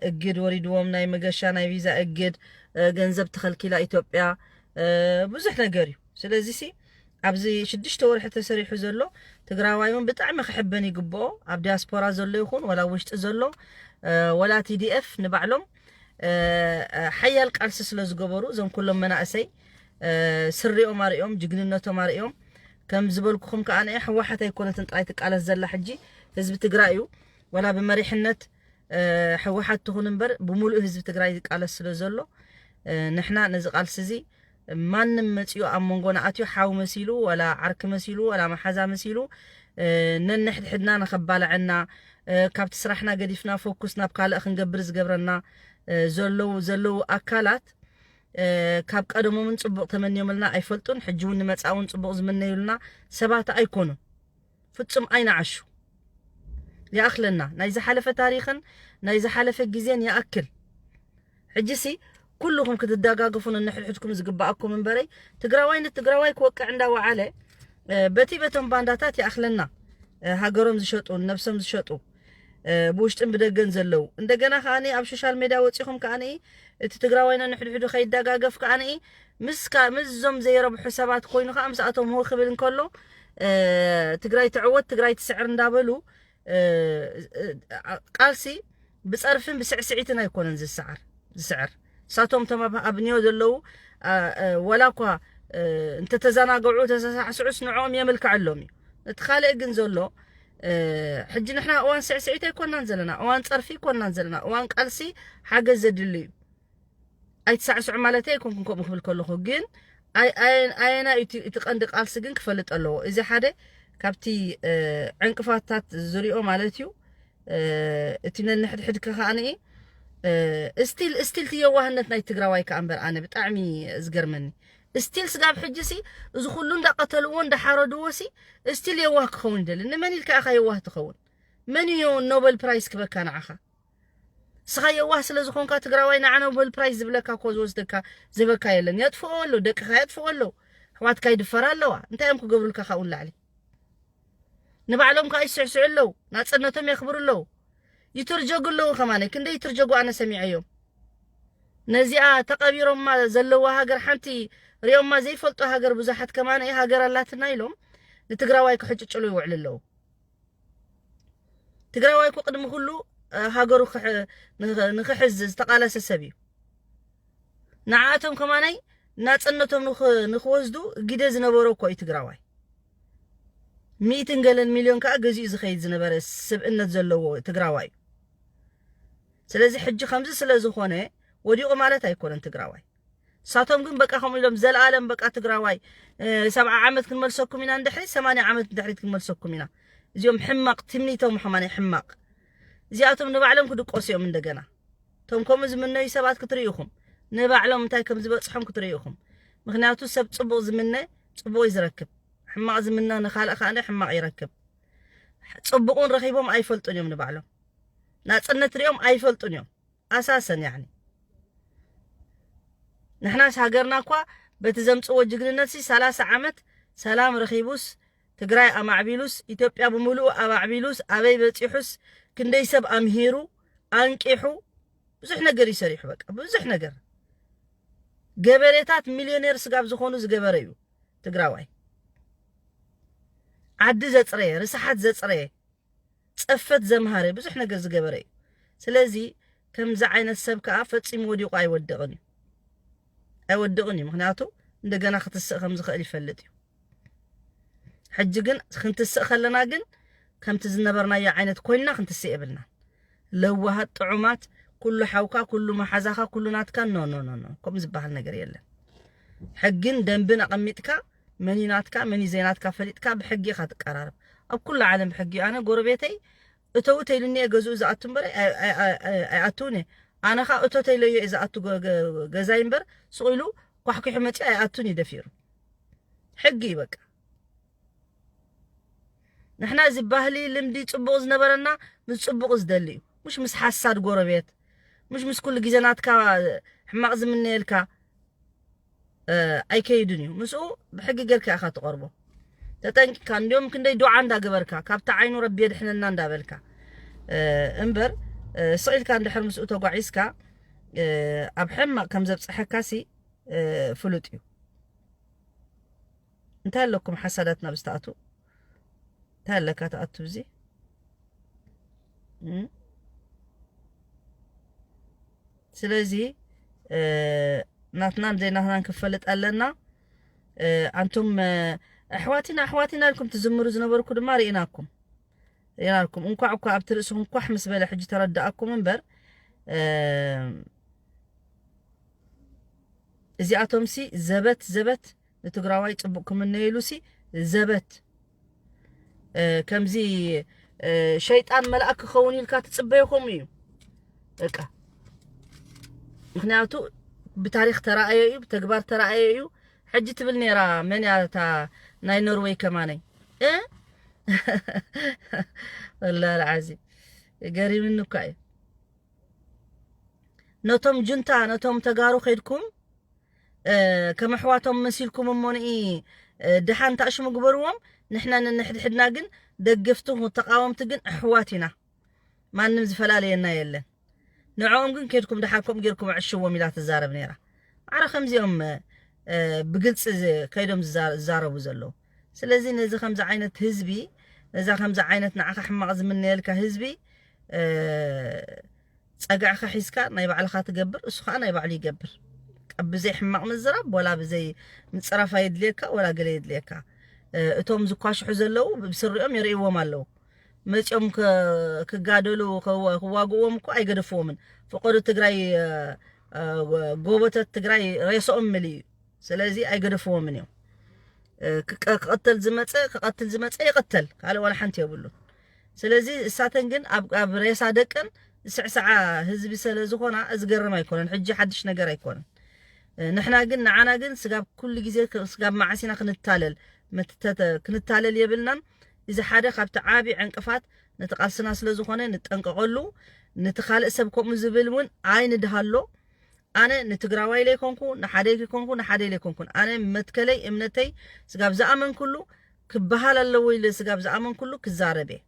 Speaker 1: እግድ ወሪድዎም ናይ መገሻ ናይ ቪዛ እግድ ገንዘብ ተኸልኪላ ኢትዮጵያ ብዙሕ ነገር እዩ ስለዚ ሲ ኣብዚ ሽዱሽተ ወርሒ ተሰሪሑ ዘሎ ትግራዋይ እውን ብጣዕሚ ክሕበን ይግብኦ ኣብ ዲያስፖራ ዘሎ ይኹን ወላ ውሽጢ ዘሎ ወላ ቲዲኤፍ ንባዕሎም ሓያል ቃልሲ ስለዝገበሩ እዞም ኩሎም መናእሰይ ስሪኦም ኣርእዮም ጅግንነቶም ኣርእዮም ከም ዝበልኩኹም ከዓ ንኤ ሕወሓት ኣይኮነትን ጥራይ ትቃለስ ዘላ ሕጂ ህዝቢ ትግራይ እዩ ወላ ብመሪሕነት ሕወሓት ትኹን እምበር ብምሉእ ህዝቢ ትግራይ ዝቃለስ ስለ ዘሎ ንሕና ነዚ ቃልሲ እዚ ማንም መጺኡ ኣብ መንጎና ኣትዩ ሓው መሲሉ ወላ ዓርኪ መሲሉ ወላ መሓዛ መሲሉ ነንሕድሕድና ንኸባላዐና ካብቲ ስራሕና ገዲፍና ፎኩስ ናብ ካልእ ክንገብር ዝገብረና ዘለው ዘለው ኣካላት ካብ ቀደሞምን ጽቡቕ ተመንዮምልና ኣይፈልጡን ሕጂ እውን ንመጻእውን ጽቡቕ ዝምነዩልና ሰባት ኣይኮኑን። ፍጹም ኣይንዓሹ። ይኣኽለና ናይ ዝሓለፈ ታሪኽን ናይ ዝሓለፈ ግዜን ይኣክል። ሕጂሲ ኩሉኹም ክትደጋገፉ ነንሕድሕድኩም ዝግበኣኩም እምበረይ ትግራዋይ ንትግራዋይ ክወቅዕ እንዳወዓለ በቲ በቶም ባንዳታት ይኣኽለና ሃገሮም ዝሸጡ ንነብሶም ዝሸጡ ብውሽጥን ብደገን ዘለው እንደገና ከኣ ኣብ ሾሻል ሜድያ ወጺኹም ከኣ እቲ ትግራዋይና ንሕድሕዱ ከይደጋገፍ ከኣ ምስካ ምስዞም ዘይረብሑ ሰባት ኮይኑ ከኣ ምስኣቶም ሆ ክብል እንከሎ ትግራይ ትዕወት ትግራይ ትስዕር እንዳበሉ ቃልሲ ብፀርፍን ብስዕስዒትን ኣይኮነን ዝስዓር ዝስዕር ንሳቶም እቶም ኣብ ኒዮ ዘለው ወላ እኳ እንተተዘናገዑ ተሰሳዕስዑስ ንዕኦም የምልክዐሎም እዩ እቲ ካልእ ግን ዘሎ ሕጂ ንሕና እዋን ስዕስዒት ኣይኮናን ዘለና እዋን ጸርፊ ኣይኮናን ዘለና እዋን ቃልሲ ሓገዝ ዘድሊ እዩ ኣይትሳዕስዑ ማለት ኣይኮንኩን ከምኡ ክብል ከለኹ ግን ኣየና እቲ ቀንዲ ቃልሲ ግን ክፈልጥ ኣለዎ እዚ ሓደ ካብቲ ዕንቅፋታት ዝሪኦ ማለት እዩ እቲ ነንሕድሕድ ከኸኣነ ስቲል ስቲል እቲ የዋህነት ናይ ትግራዋይ ከዓ እምበር ኣነ ብጣዕሚ ዝገርመኒ ስቲል ስጋብ ሕጂ ሲ እዚ ኩሉ እንዳ ቀተልዎ እንዳ ሓረድዎ ሲ ስቲል የዋህ ክኸውን ይደሊ ንመን ኢልካ ኢኻ የዋህ ትኸውን መን እዩ ኖበል ፕራይስ ክበካ ንዓኻ ስኻ የዋህ ስለ ዝኾንካ ትግራዋይ ንዓ ኖበል ፕራይስ ዝብለካ እኮ ዝወስደካ ዝበካ የለን የጥፍኦ ኣሎ ደቅኻ የጥፍኦ ኣለዉ ኣሕዋትካ ይድፈራ ኣለዋ እንታይ እዮም ክገብሩልካ ካብኡ ንላዕሊ ንባዕሎም ከዓ ይስዕስዑ ኣለዉ ናፅነቶም የኽብሩ ኣለዉ ይትርጀጉ ኣለዉ ከማነ ክንደይ ይትርጀጉ ኣነ ሰሚዐዮም ነዚኣ ተቐቢሮማ ዘለዋ ሃገር ሓንቲ ሪኦማ ዘይፈልጡ ሃገር ብዙሓት ከማነ ሃገር ኣላትና ኢሎም ንትግራዋይ ክሕጭጭሉ ይውዕሉ ኣለዉ ትግራዋይ እኮ ቅድሚ ኩሉ ሃገሩ ንክሕዝ ዝተቃለሰ ሰብ እዩ ንዓኣቶም ከማናይ ናጽነቶም ንክወስዱ ግደ ዝነበሮ እኮ እዩ ትግራዋይ። ሚእትን ገለን ሚልዮን ከዓ ገዚኡ ዝኸይድ ዝነበረ ስብእነት ዘለዎ ትግራዋይ እዩ። ስለዚ ሕጂ ከምዚ ስለ ዝኾነ ወዲቑ ማለት ኣይኮነን ትግራዋይ። ሳቶም ግን በቃ ከምኡ ኢሎም ዘለኣለም በቃ ትግራዋይ ሰብዓ ዓመት ክንመልሰኩም ኢና ንድሕሪ ሰማንያ ዓመት ንድሕሪት ክንመልሰኩም ኢና እዚኦም ሕማቕ ትምኒቶም ኸማን ሕማቕ እዚኣቶም ንባዕሎም ክድቆሱ እዮም እንደገና እቶም ከምኡ ዝምነዩ ሰባት ክትርእዩ ኢኹም። ንባዕሎም እንታይ ከም ዝበጽሖም ክትርእዩ ኢኹም። ምኽንያቱ ሰብ ጽቡቕ ዝምነ ጽቡቕ እዩ ዝረክብ። ሕማቕ ዝምነ ንኻልእ ከኣ ሕማቕ ይረክብ። ጽቡቕን ረኺቦም ኣይፈልጡን እዮም ንባዕሎም። ናጽነት ሪኦም ኣይፈልጡን እዮም። ኣሳሰን ያኒ ንሕናስ ሃገርና እኳ በቲ ዘምጽዎ ጅግንነት ሲ ሰላሳ ዓመት ሰላም ረኺቡስ ትግራይ ኣማዕቢሉስ ኢትዮጵያ ብምልኡ ኣማዕቢሉስ ኣበይ በጺሑስ ክንደይ ሰብ ኣምሂሩ ኣንቂሑ ብዙሕ ነገር እዩ ሰሪሑ በቃ ብዙሕ ነገር ገበሬታት ሚልዮኔር ስጋብ ዝኾኑ ዝገበረ እዩ ትግራዋይ ዓዲ ዘፅረየ ርስሓት ዘፅረየ ፀፈት ዘምሃረ ብዙሕ ነገር ዝገበረ እዩ ስለዚ ከምዚ ዓይነት ሰብ ከዓ ፈፂሙ ወዲቑ ኣይወድቕን እዩ ኣይወድቕን እዩ ምክንያቱ እንደገና ክትስእ ከም ዝኽእል ይፈልጥ እዩ ሕጂ ግን ክንትስእ ከለና ግን ከምቲ ዝነበርናዮ ዓይነት ኮይንና ክንትስእ የብልና ለዋሃት ጥዑማት ኩሉ ሓውካ ኩሉ መሓዛኻ ኩሉ ናትካ ኖ ኖ ኖ ኖ ከምኡ ዝበሃል ነገር የለን ሕግን ደንብን ኣቐሚጥካ መን እዩ ናትካ መን እዩ ዘይናትካ ፈሊጥካ ብሕጊ ኢኻ ትቀራረብ ኣብ ኩሉ ዓለም ብሕጊ እዩ ኣነ ጎረቤተይ እተው ተይሉኒ እየ ገዝኡ ዝኣቱ እምበር ኣይኣትውን እየ ኣነ ከዓ እቶ ተይለዮ እየ ዝኣቱ ገዛይ እምበር ስቑኢሉ ኳሕኲሑ መፂ ኣይኣቱን እዩ ደፊሩ ሕጊ እዩ በቃ ንሕና እዚ ባህሊ ልምዲ ፅቡቕ ዝነበረና ምስ ፅቡቕ ዝደሊ እዩ ሙሽ ምስ ሓሳድ ጎረቤት ሙሽ ምስ ኩሉ ግዜ ናትካ ሕማቕ ዝምነየልካ ኣይከይድን እዩ ምስኡ ብሕጊ ጌርካ ኢኻ ትቐርቦ ተጠንቂካ እንዲም ክንደይ ዱዓ እንዳገበርካ ካብቲ ዓይኑ ረቢ የድሕነና እንዳበልካ እምበር ስቕ ኢልካ እንድሕር ምስኡ ተጓዒዝካ ኣብ ሕማቕ ከም ዘብፅሐካሲ ፍሉጥ እዩ እንታይ ኣለኩም ሓሳዳት ናብ ዝተኣቱ እንታይ ኣለካ ተኣቱ እዚ ስለዚ ናትናን ዘይናትናን ክፈልጥ ኣለና ኣንቱም ኣሕዋቲና ኣሕዋቲና ኢልኩም ትዝምሩ ዝነበርኩ ድማ ርኢናኩም ርኢናኩም እንኳዕ እኳ ኣብቲ ርእስኹም ኳሕ ምስ በለ ሕጂ ተረዳእኩም እምበር እዚኣቶምሲ ዘበት ዘበት ንትግራዋይ ፅቡቅ ክምነዩ ኢሉሲ ዘበት ከምዚ ሸይጣን መልኣክ ክኸውን ኢልካ ትፅበዮ ከምኡ እዩ በቃ ምክንያቱ ብታሪክ ተራእዮ እዩ ብተግባር ተራእዮ እዩ ሕጂ ትብል ነራ መን እያ እታ ናይ ኖርወይ ከማነይ እ ወላ ልዓዚ ገሪምኒ እኳ እዩ ነቶም ጁንታ ነቶም ተጋሩ ከድኩም ከም ኣሕዋቶም መሲልኩም እሞ ንኢ ድሓን ታእሽሙ ግበርዎም ንሕና ንንሕድሕድና ግን ደግፍቲ ተቃወምቲ ግን ኣሕዋት ኢና ማንም ዝፈላለየና የለን ንዕኦም ግን ከድኩም ድሓን ከምኡ ጌርኩም ኣዕሽዎም ኢላ ትዛረብ ነይራ ማዕረ ከምዚኦም ብግልፂ ከይዶም ዝዛረቡ ዘለዉ ስለዚ ነዚ ከምዚ ዓይነት ህዝቢ ነዛ ከምዚ ዓይነት ንዓኻ ሕማቕ ዝምነየልካ ህዝቢ ጸግዕኻ ሒዝካ ናይ ባዕልኻ ትገብር እሱ ከዓ ናይ ባዕሉ ይገብር ብዘይ ሕማቕ ምዝራብ ወላ ብዘይ ምፅራፍ ኣየድልየካ ወላ ገለ የድልየካ እቶም ዝኳሽሑ ዘለዉ ብስሪኦም የርእዎም ኣለዉ መፂኦም ክጋደሉ ክዋግእዎም እኮ ኣይገደፍዎምን ፍቐዱ ትግራይ ጎቦተት ትግራይ ሬሶኦም ምል እዩ ስለዚ ኣይገደፍዎምን እዮም ክቐተል ዝመፀ ክቐትል ዝመፀ ይቐተል ካልእ ዋላ ሓንቲ የብሉን ስለዚ እሳተን ግን ኣብ ሬሳ ደቀን ዝስዕስዓ ህዝቢ ስለ ዝኾና ዝገርም ኣይኮነን ሕጂ ሓድሽ ነገር ኣይኮነን ንሕና ግን ንዓና ግን ስጋብ ኩሉ ግዜ ስጋብ መዓሲና ክንታለል ክንታለል የብልናን እዚ ሓደ ካብቲ ዓብዪ ዕንቅፋት ነቲ ቃልስና ስለ ዝኾነ ንጠንቀቐሉ ነቲ ካልእ ሰብ ከምኡ ዝብል እውን ኣይንድሃሎ ኣነ ንትግራዋይ ለይኮንኩ ንሓደይ ክይኮንኩ ንሓደይ ለይኮንኩን ኣነ መትከለይ እምነተይ ስጋብ ዝኣመንኩሉ ክብሃል ኣለዎ ኢለ ስጋብ ዝኣመንኩሉ ክዛረብ እየ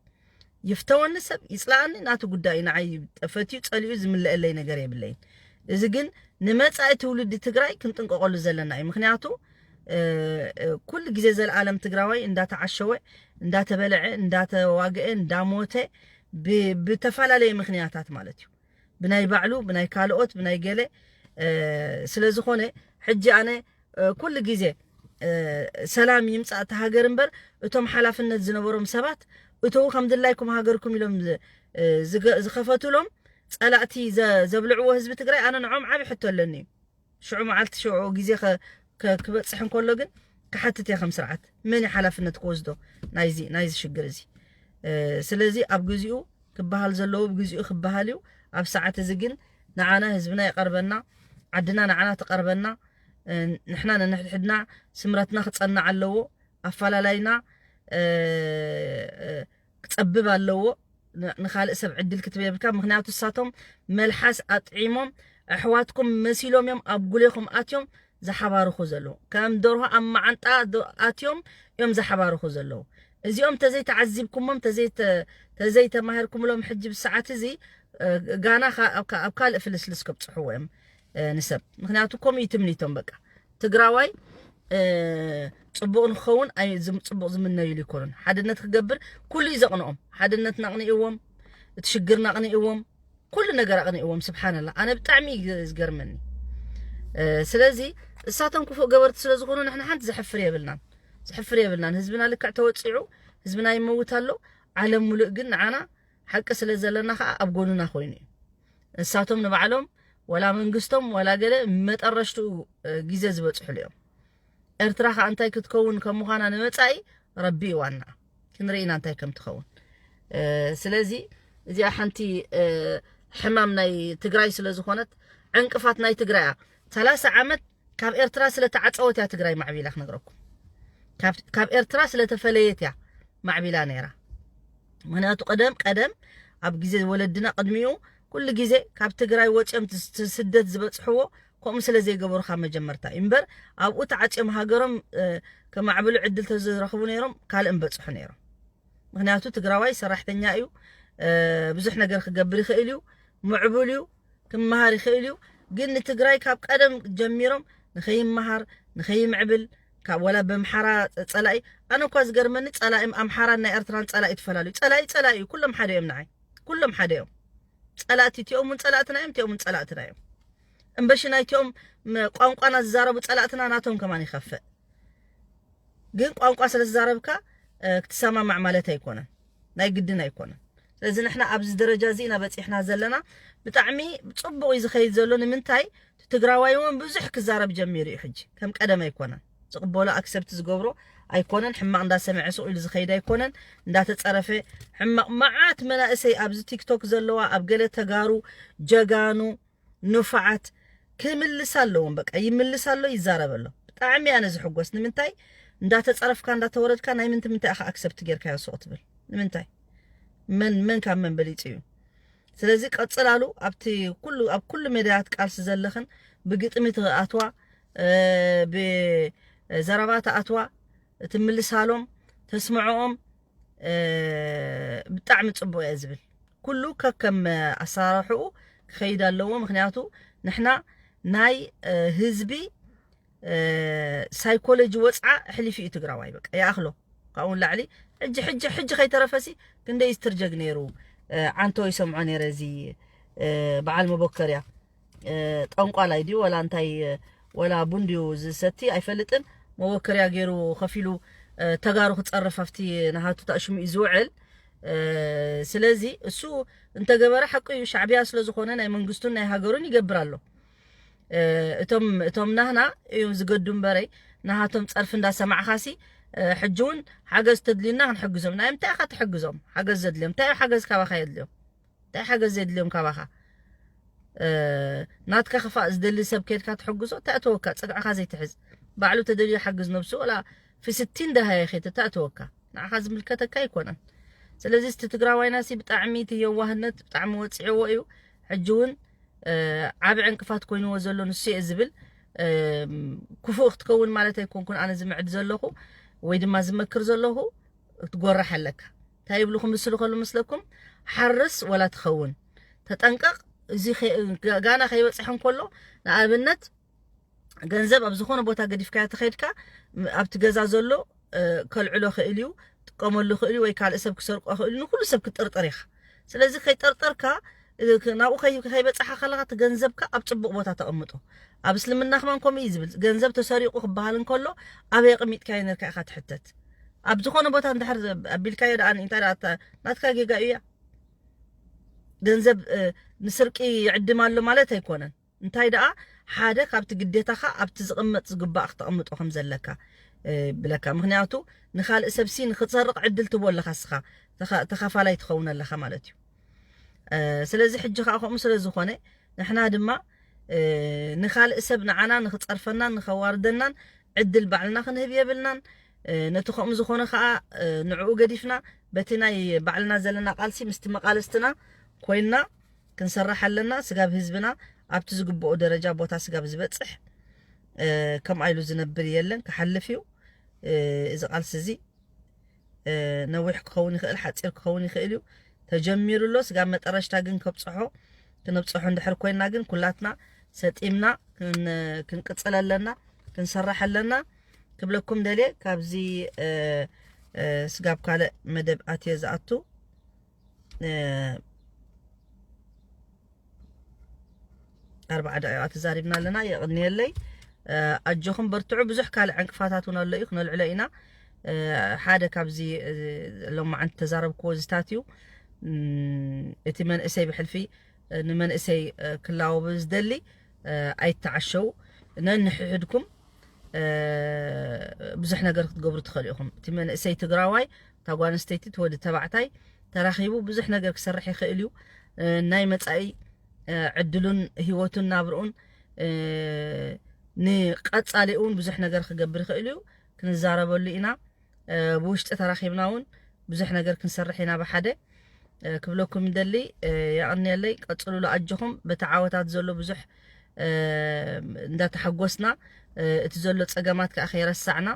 Speaker 1: ይፍተወኒ ሰብ ይፅላኣኒ ናቱ ጉዳይ እዩ ንዓይ ጠፈትዩ ፀሊኡ ዝምለእለይ ነገር የብለይን እዚ ግን ንመፃኢ ትውልዲ ትግራይ ክንጥንቀቐሉ ዘለና እዩ ምክንያቱ ኩሉ ግዜ ዘለኣለም ትግራዋይ እንዳተዓሸወ እንዳተበለዐ እንዳተዋግአ እንዳሞተ ብተፈላለየ ምክንያታት ማለት እዩ ብናይ ባዕሉ ብናይ ካልኦት ብናይ ገለ ስለ ዝኾነ ሕጂ ኣነ ኩሉ ግዜ ሰላም ይምጻእ እቲ ሃገር እምበር እቶም ሓላፍነት ዝነበሮም ሰባት እተው ከም ድላይኩም ሃገርኩም ኢሎም ዝኸፈቱሎም ጸላእቲ ዘብልዕዎ ህዝቢ ትግራይ ኣነ ንዖም ዓብ ሕቶ ኣለኒ እዩ ሽዑ መዓልቲ ሽዑ ግዜ ክበጽሕ እንከሎ ግን ክሓትት እየ ከም ስርዓት መን ሓላፍነት ክወስዶ ናይዚ ሽግር እዚ ስለዚ ኣብ ግዚኡ ክበሃል ዘለዎ ብግዚኡ ክበሃል እዩ ኣብ ሰዓት እዚ ግን ንዓና ህዝብና ይቐርበና ዓድና ንዓና ትቐርበና ንሕና ነንሕድሕድና ስምረትና ክጸናዕ ኣለዎ ኣፈላላይና ክጸብብ ኣለዎ ንካልእ ሰብ ዕድል ክትብ የብልካ ምክንያቱ ሳቶም መልሓስ ኣጥዒሞም ኣሕዋትኩም መሲሎም እዮም ኣብ ጉሌኹም ኣትዮም ዝሓባርኹ ዘለዉ ከም ደርሆ ኣብ መዓንጣ ኣትዮም እዮም ዝሓባርኹ ዘለዉ እዚኦም ተዘይ ተዓዚብኩሞም ተዘይ ተማሂርኩምሎም ሕጂ ብሰዓት እዚ ጋና ኣብ ካልእ ፍልስልስ ከብፅሕዎ እዮም ንሰብ ምክንያቱ ከምኡ እዩ ትምኒቶም በቃ ትግራዋይ ፅቡቕ ንክኸውን ኣይ ፅቡቕ ዝምነዩሉ ኣይኮኑን ሓድነት ክገብር ኩሉ እዩ ዘቕንኦም ሓድነትና ኣቕኒእዎም እቲ ሽግርና ኣቕኒእዎም ኩሉ ነገር ኣቕኒእዎም ስብሓንላ ኣነ ብጣዕሚ እዩ ዝገርመኒ ስለዚ እሳቶም ክፉእ ገበርቲ ስለ ዝኾኑ ንሕና ሓንቲ ዘሕፍር የብልናን ዘሕፍር የብልናን ህዝብና ልክዕ ተወፂዑ ህዝብና ይመውት ኣሎ ዓለም ሙሉእ ግን ንዓና ሓቂ ስለ ዘለና ከኣ ኣብ ጎንና ኮይኑ እዩ ንሳቶም ንባዕሎም ወላ መንግስቶም ወላ ገለ መጠረሽትኡ ግዜ ዝበጽሕሉ እዮም ኤርትራ ከኣ እንታይ ክትከውን ከም ምዃና ንመጻኢ ረቢ እዩ ዋና ክንርኢና እንታይ ከም ትኸውን ስለዚ እዚኣ ሓንቲ ሕማም ናይ ትግራይ ስለ ዝኾነት ዕንቅፋት ናይ ትግራይ እያ ሰላሳ ዓመት ካብ ኤርትራ ስለ ተዓጸወት እያ ትግራይ ማዕቢላ ክነግረኩም ካብ ካብ ኤርትራ ስለ ተፈለየት እያ ማዕቢላ ነይራ ምክንያቱ ቀደም ቀደም ኣብ ግዜ ወለድና ቅድሚኡ ኩሉ ግዜ ካብ ትግራይ ወጽዮም ስ- ስደት ዝበጽሕዎ ከምኡ ስለ ዘይገበሩ ካብ መጀመርታ እዩ እምበር ኣብኡ ተዓጽዮም ሃገሮም እ፣ ከማዕብሉ ዕድል ተዝረኽቡ ነይሮም ካልእ ምበጽሑ ነይሮም ምክንያቱ ትግራዋይ ሰራሕተኛ እዩ እ፣ ብዙሕ ነገር ክገብር ይኽእል እዩ ምዕቡል እዩ ክመሃር ይኽእል እዩ ግን ንትግራይ ካብ ቀደም ጀሚሮም ንኸይመሃር ንኸይምዕብል ካብ ወላ በምሓራ ጸላኢ ኣነ እኳ ዝገርመኒ ጸላኢ ኣምሓራን ናይ ኤርትራን ጸላኢ ትፈላልዩ ጸላኢ ጸላኢ እዩ ኩሎም ሓደ እዮም ንዓይ ኩሎም ሓደ እዮም ጸላእቲ እቲኦም እውን ጸላእትና እዮም እቲኦም እውን ጸላእትና እዮም እምበሽ ናይቲኦም ቋንቋና ዝዛረቡ ጸላእትና ናቶም ከማን ይኸፍእ ግን ቋንቋ ስለ ዝዛረብካ ክትሰማማዕ ማለት ኣይኮነን ናይ ግድን ኣይኮነን ስለዚ ንሕና ኣብዚ ደረጃ እዚ ኢና በጺሕና ዘለና ብጣዕሚ ጽቡቕ እዩ ዝኸይድ ዘሎ ንምንታይ ትግራዋይ እውን ብዙሕ ክዛረብ ጀሚሩ እዩ ሕጂ ከም ቀደም ኣይኮነን ዝቕበሎ ኣክሰብቲ ዝገብሮ ኣይኮነን ሕማቕ እንዳሰምዐ ሱቕ ኢሉ ዝኸይድ ኣይኮነን እንዳተፀረፈ ሕማቕ መዓት መናእሰይ ኣብዚ ቲክቶክ ዘለዋ ኣብ ገለ ተጋሩ ጀጋኑ ኑፋዓት ክምልስ ኣለዎም በቃ ይምልስ ኣሎ ይዛረብ ኣሎ ብጣዕሚ ኣነ ዝሕጎስ ንምንታይ እንዳተጸረፍካ እንዳተወረድካ ናይ ምንቲ ምንታይ ኢኻ ኣክሰፕት ጌርካዮ ሱቕ ትብል ንምንታይ መን መን ካብ መን በሊጹ እዩ ስለዚ ቀጽላሉ ኣብቲ ኩሉ ኣብ ኩሉ ሜዳያት ቃልሲ ዘለኽን ብግጥሚ ትኣትዋ ብዘረባ ትኣትዋ ትምልሳሎም ተስምዖኦም ብጣዕሚ ጽቡቅ እየ ዝብል ኩሉ ከከም ኣሰራርሕኡ ክኸይድ ኣለዎ ምክንያቱ ንሕና ናይ ህዝቢ ሳይኮሎጂ ወፅዓ ሕሊፍ እዩ ትግራዋይ በቃ ይኣኽሎ ካብኡ ንላዕሊ ሕጂ ሕጂ ሕጂ ከይተረፈሲ ክንደይ ዝትርጀግ ነይሩ ዓንቶ ይሰምዖ ነይረ እዚ በዓል መቦከርያ ጠንቋላይ ድዩ ወላ እንታይ ወላ ቡን ድዩ ዝሰቲ ኣይፈልጥን መወከርያ ገይሩ ከፊሉ ተጋሩ ክፀርፍ ኣብቲ ናሃቱ ታእሽሙ እዩ ዝውዕል ስለዚ እሱ እንተገበረ ሓቁ እዩ ሻዕቢያ ስለዝኾነ ናይ መንግስቱን ናይ ሃገሩን ይገብር ኣሎ እቶም እቶም ናህና እዮም ዝገዱ እምበረይ ናሃቶም ፀርፊ እንዳሰማዕኻሲ ሕጂ እውን ሓገዝ ተድልዩና ክንሕግዞም ናይ ምንታይ ኢኻ ትሕግዞም ሓገዝ ዘድልዮም እንታይ ሓገዝ ካባኻ የድልዮም እንታይ ሓገዝ ዘድልዮም ካባኻ ናትካ ክፋእ ዝደሊ ሰብ ከድካ ትሕግዞ ተእተወካ ጽግዕኻ ዘይትሕዝ ባዕሉ ተደልዩ ሓግዝ ነብሱ ወላ ፊስቲን ደሃየ ኸይተ ተእተወካ ንዓኻ ዝምልከተካ ኣይኮነን ስለዚ እቲ ትግራዋይናሲ ብጣዕሚ እቲ የዋህነት ብጣዕሚ ወፂዕዎ እዩ ሕጂ እውን ዓብ ዕንቅፋት ኮይንዎ ዘሎ ንሱ እየ ዝብል ክፉእ ክትከውን ማለት ኣይኮንኩን ኣነ ዝምዕድ ዘለኹ ወይ ድማ ዝመክር ዘለኹ ትጎራሕ ኣለካ ታይ ይብሉ ክምስሉ ከሉ ምስለኩም ሓርስ ወላ ትኸውን ተጠንቀቅ እዚ ጋና ከይበፅሐ እንከሎ ንኣብነት ገንዘብ ኣብ ዝኾነ ቦታ ገዲፍካዮ ተኸድካ ኣብቲ ገዛ ዘሎ ከልዕሎ ክእል እዩ ጥቀመሉ ክእል ወይ ካልእ ሰብ ክሰርቆ ክእል ንኩሉ ሰብ ክጥርጥር ኢኻ ስለዚ ከይጠርጠርካ ናብኡ ከይበጻሕካ ከለኻ እቲ ገንዘብካ ኣብ ጽቡቕ ቦታ ተቐምጦ። ኣብ እስልምና ከማን ከምኡ እዩ ዝብል። ገንዘብ ተሰሪቑ ክበሃል እንከሎ ኣበይ ኣቐሚጥካዮ ነርካ ኢኻ ትሕተት። ኣብ ዝኾነ ቦታ እንድሕር ኣቢልካዮ ደኣ እንታይ ደኣ ናትካ ጌጋ እያ። ገንዘብ ንስርቂ ይዕድም ኣሎ ማለት ኣይኮነን። እንታይ ደኣ ሓደ ካብቲ ግዴታኻ ኣብቲ ዝቕመጥ ዝግባእ ክተቕምጦ ከም ዘለካ ብለካ ምክንያቱ ንካልእ ሰብ ሲ ንክትሰርቕ ዕድል ትቦ ኣለኻ እስኻ ተኻፋላይ ትኸውን ኣለኻ ማለት እዩ ስለዚ ሕጂ ከዓ ከምኡ ስለ ዝኾነ ንሕና ድማ ንካልእ ሰብ ንዓና ንክፀርፈናን ንከዋርደናን ዕድል ባዕልና ክንህብ የብልናን ነቲ ከምኡ ዝኾነ ከዓ ንዕኡ ገዲፍና በቲ ናይ ባዕልና ዘለና ቃልሲ ምስቲ መቃልስትና ኮይንና ክንሰርሕ ኣለና ስጋብ ህዝብና ኣብቲ ዝግብኦ ደረጃ ቦታ ስጋብ ዝበጽሕ ከምኣ ኢሉ ዝነብር የለን ክሓልፍ እዩ እዚ ቃልሲ እዚ ነዊሕ ክኸውን ይኽእል ሓፂር ክኸውን ይኽእል እዩ ተጀሚሩ ኣሎ ስጋብ መጠረሽታ ግን ከብፅሖ ክንብፅሖ እንድሕር ኮይና ግን ኩላትና ሰጢምና ክንቅፅል ኣለና ክንሰርሕ ኣለና ክብለኩም ደልየ ካብዚ ስጋብ ካልእ መደብ ኣትየ ዝኣቱ ኣርባዓ ደቂቃ ተዛሪብና ኣለና የቕንየለይ ኣጆኹም በርትዑ ብዙሕ ካልእ ዕንቅፋታት እውን ኣሎ እዩ ክነልዕሎ ኢና ሓደ ካብዚ ሎማዓንቲ ተዛረብክዎ ዝታት እዩ እቲ መንእሰይ ብሕልፊ ንመንእሰይ ክላወብ ዝደሊ ኣይተዓሸው ነንሕሕድኩም ብዙሕ ነገር ክትገብሩ ትኽእሉ ኢኹም እቲ መንእሰይ ትግራዋይ እታ ጓል ኣንስተይቲ እቲ ወዲ ተባዕታይ ተራኺቡ ብዙሕ ነገር ክሰርሕ ይኽእል እዩ ናይ መጻኢ ዕድሉን ህይወቱን ናብርኡን ንቀጻሊኡ እውን ብዙሕ ነገር ክገብር ይኽእል እዩ ክንዛረበሉ ኢና ብውሽጢ ተራኺብና እውን ብዙሕ ነገር ክንሰርሕ ኢና ብሓደ ክብለኩም ደሊ የቐንየለይ ቀፅሉሉ ኣጆኹም በቲ ዓወታት ዘሎ ብዙሕ እንዳተሓጎስና እቲ ዘሎ ፀገማት ከዓ ከይረሳዕና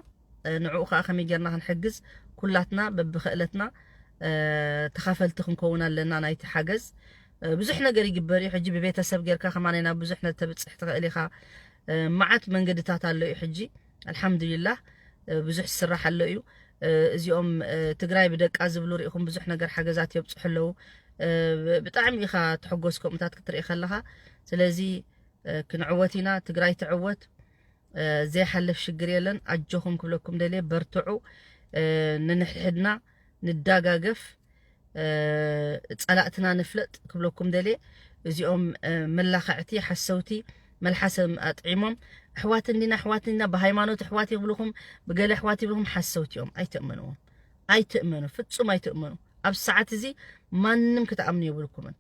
Speaker 1: ንዕኡ ከኣ ከመይ ጌርና ክንሕግዝ ኩላትና በብኸእለትና ተኻፈልቲ ክንከውን ኣለና ናይቲ ሓገዝ ብዙሕ ነገር ይግበር እዩ ሕጂ ብቤተሰብ ጌርካ ከማን ናብ ብዙሕ ነተብጽሕ ትኽእል ኢኻ መዓት መንገድታት ኣሎ እዩ ሕጂ ኣልሓምዱሊላህ ብዙሕ ዝስራሕ ኣሎ እዩ እዚኦም ትግራይ ብደቃ ዝብሉ ርኢኹም ብዙሕ ነገር ሓገዛት የብፅሑ ኣለዉ ብጣዕሚ ኢኻ ትሕጎስ ከምኡታት ክትርኢ ከለኻ ስለዚ ክንዕወት ኢና ትግራይ ትዕወት ዘይሓልፍ ሽግር የለን ኣጆኹም ክብለኩም ደልየ በርትዑ ንንሕድሕድና ንዳጋገፍ ጸላእትና ንፍለጥ ክብለኩም ደልየ እዚኦም መላኸዕቲ ሓሰውቲ መልሓሰም ኣጥዒሞም ኣሕዋት እንዲና ኣሕዋት እንዲና ብሃይማኖት ኣሕዋት ይብልኹም ብገለ ኣሕዋት ይብልኹም ሓሰውቲ እዮም ኣይትእመንዎም ኣይትእመኑ ፍጹም ኣይትእመኑ ኣብ ሰዓት እዚ ማንም ክትኣምኑ የብልኩምን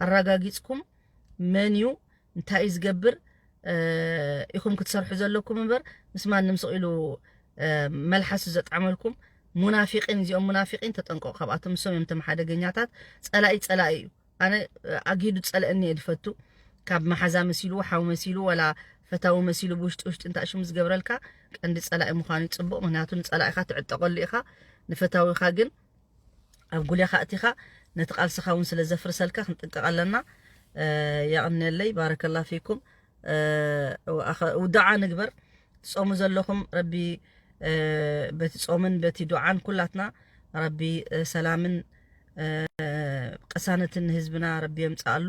Speaker 1: ኣረጋጊጽኩም መን እዩ እንታይ እዩ ዝገብር ኢኹም ክትሰርሑ ዘለኩም እምበር ምስ ማንም ስቕ ኢሉ መልሓሱ ዘጥዓመልኩም ሙናፊቂን እዚኦም ሙናፊቂን ተጠንቀቑ ካብኣቶም ንሶም እዮም ተም ሓደገኛታት ፀላኢ ፀላኢ እዩ ኣነ ኣግሂዱ ፀልአኒ እየ ዝፈቱ ካብ መሓዛ መሲሉ ሓው መሲሉ ወላ ፈታዊ መሲሉ ብውሽጢ ውሽጢ እንታይ ሽሙ ዝገብረልካ ቀንዲ ፀላኢ ምዃኑ እዩ ፅቡቕ ምክንያቱ ንፀላኢኻ ትዕጠቐሉ ኢኻ ንፈታዊኻ ግን ኣብ ጉሌኻ እቲኻ ነቲ ቃልስኻ እውን ስለ ዘፍርሰልካ ክንጥንቀቕ ኣለና የቕኔለይ ባረከላ ፊኩም ዱዓ ንግበር ትጾሙ ዘለኹም ረቢ በቲ ጾምን በቲ ዱዓን ኩላትና ረቢ ሰላምን ቅሳነትን ንህዝብና ረቢ የምጽኣሉ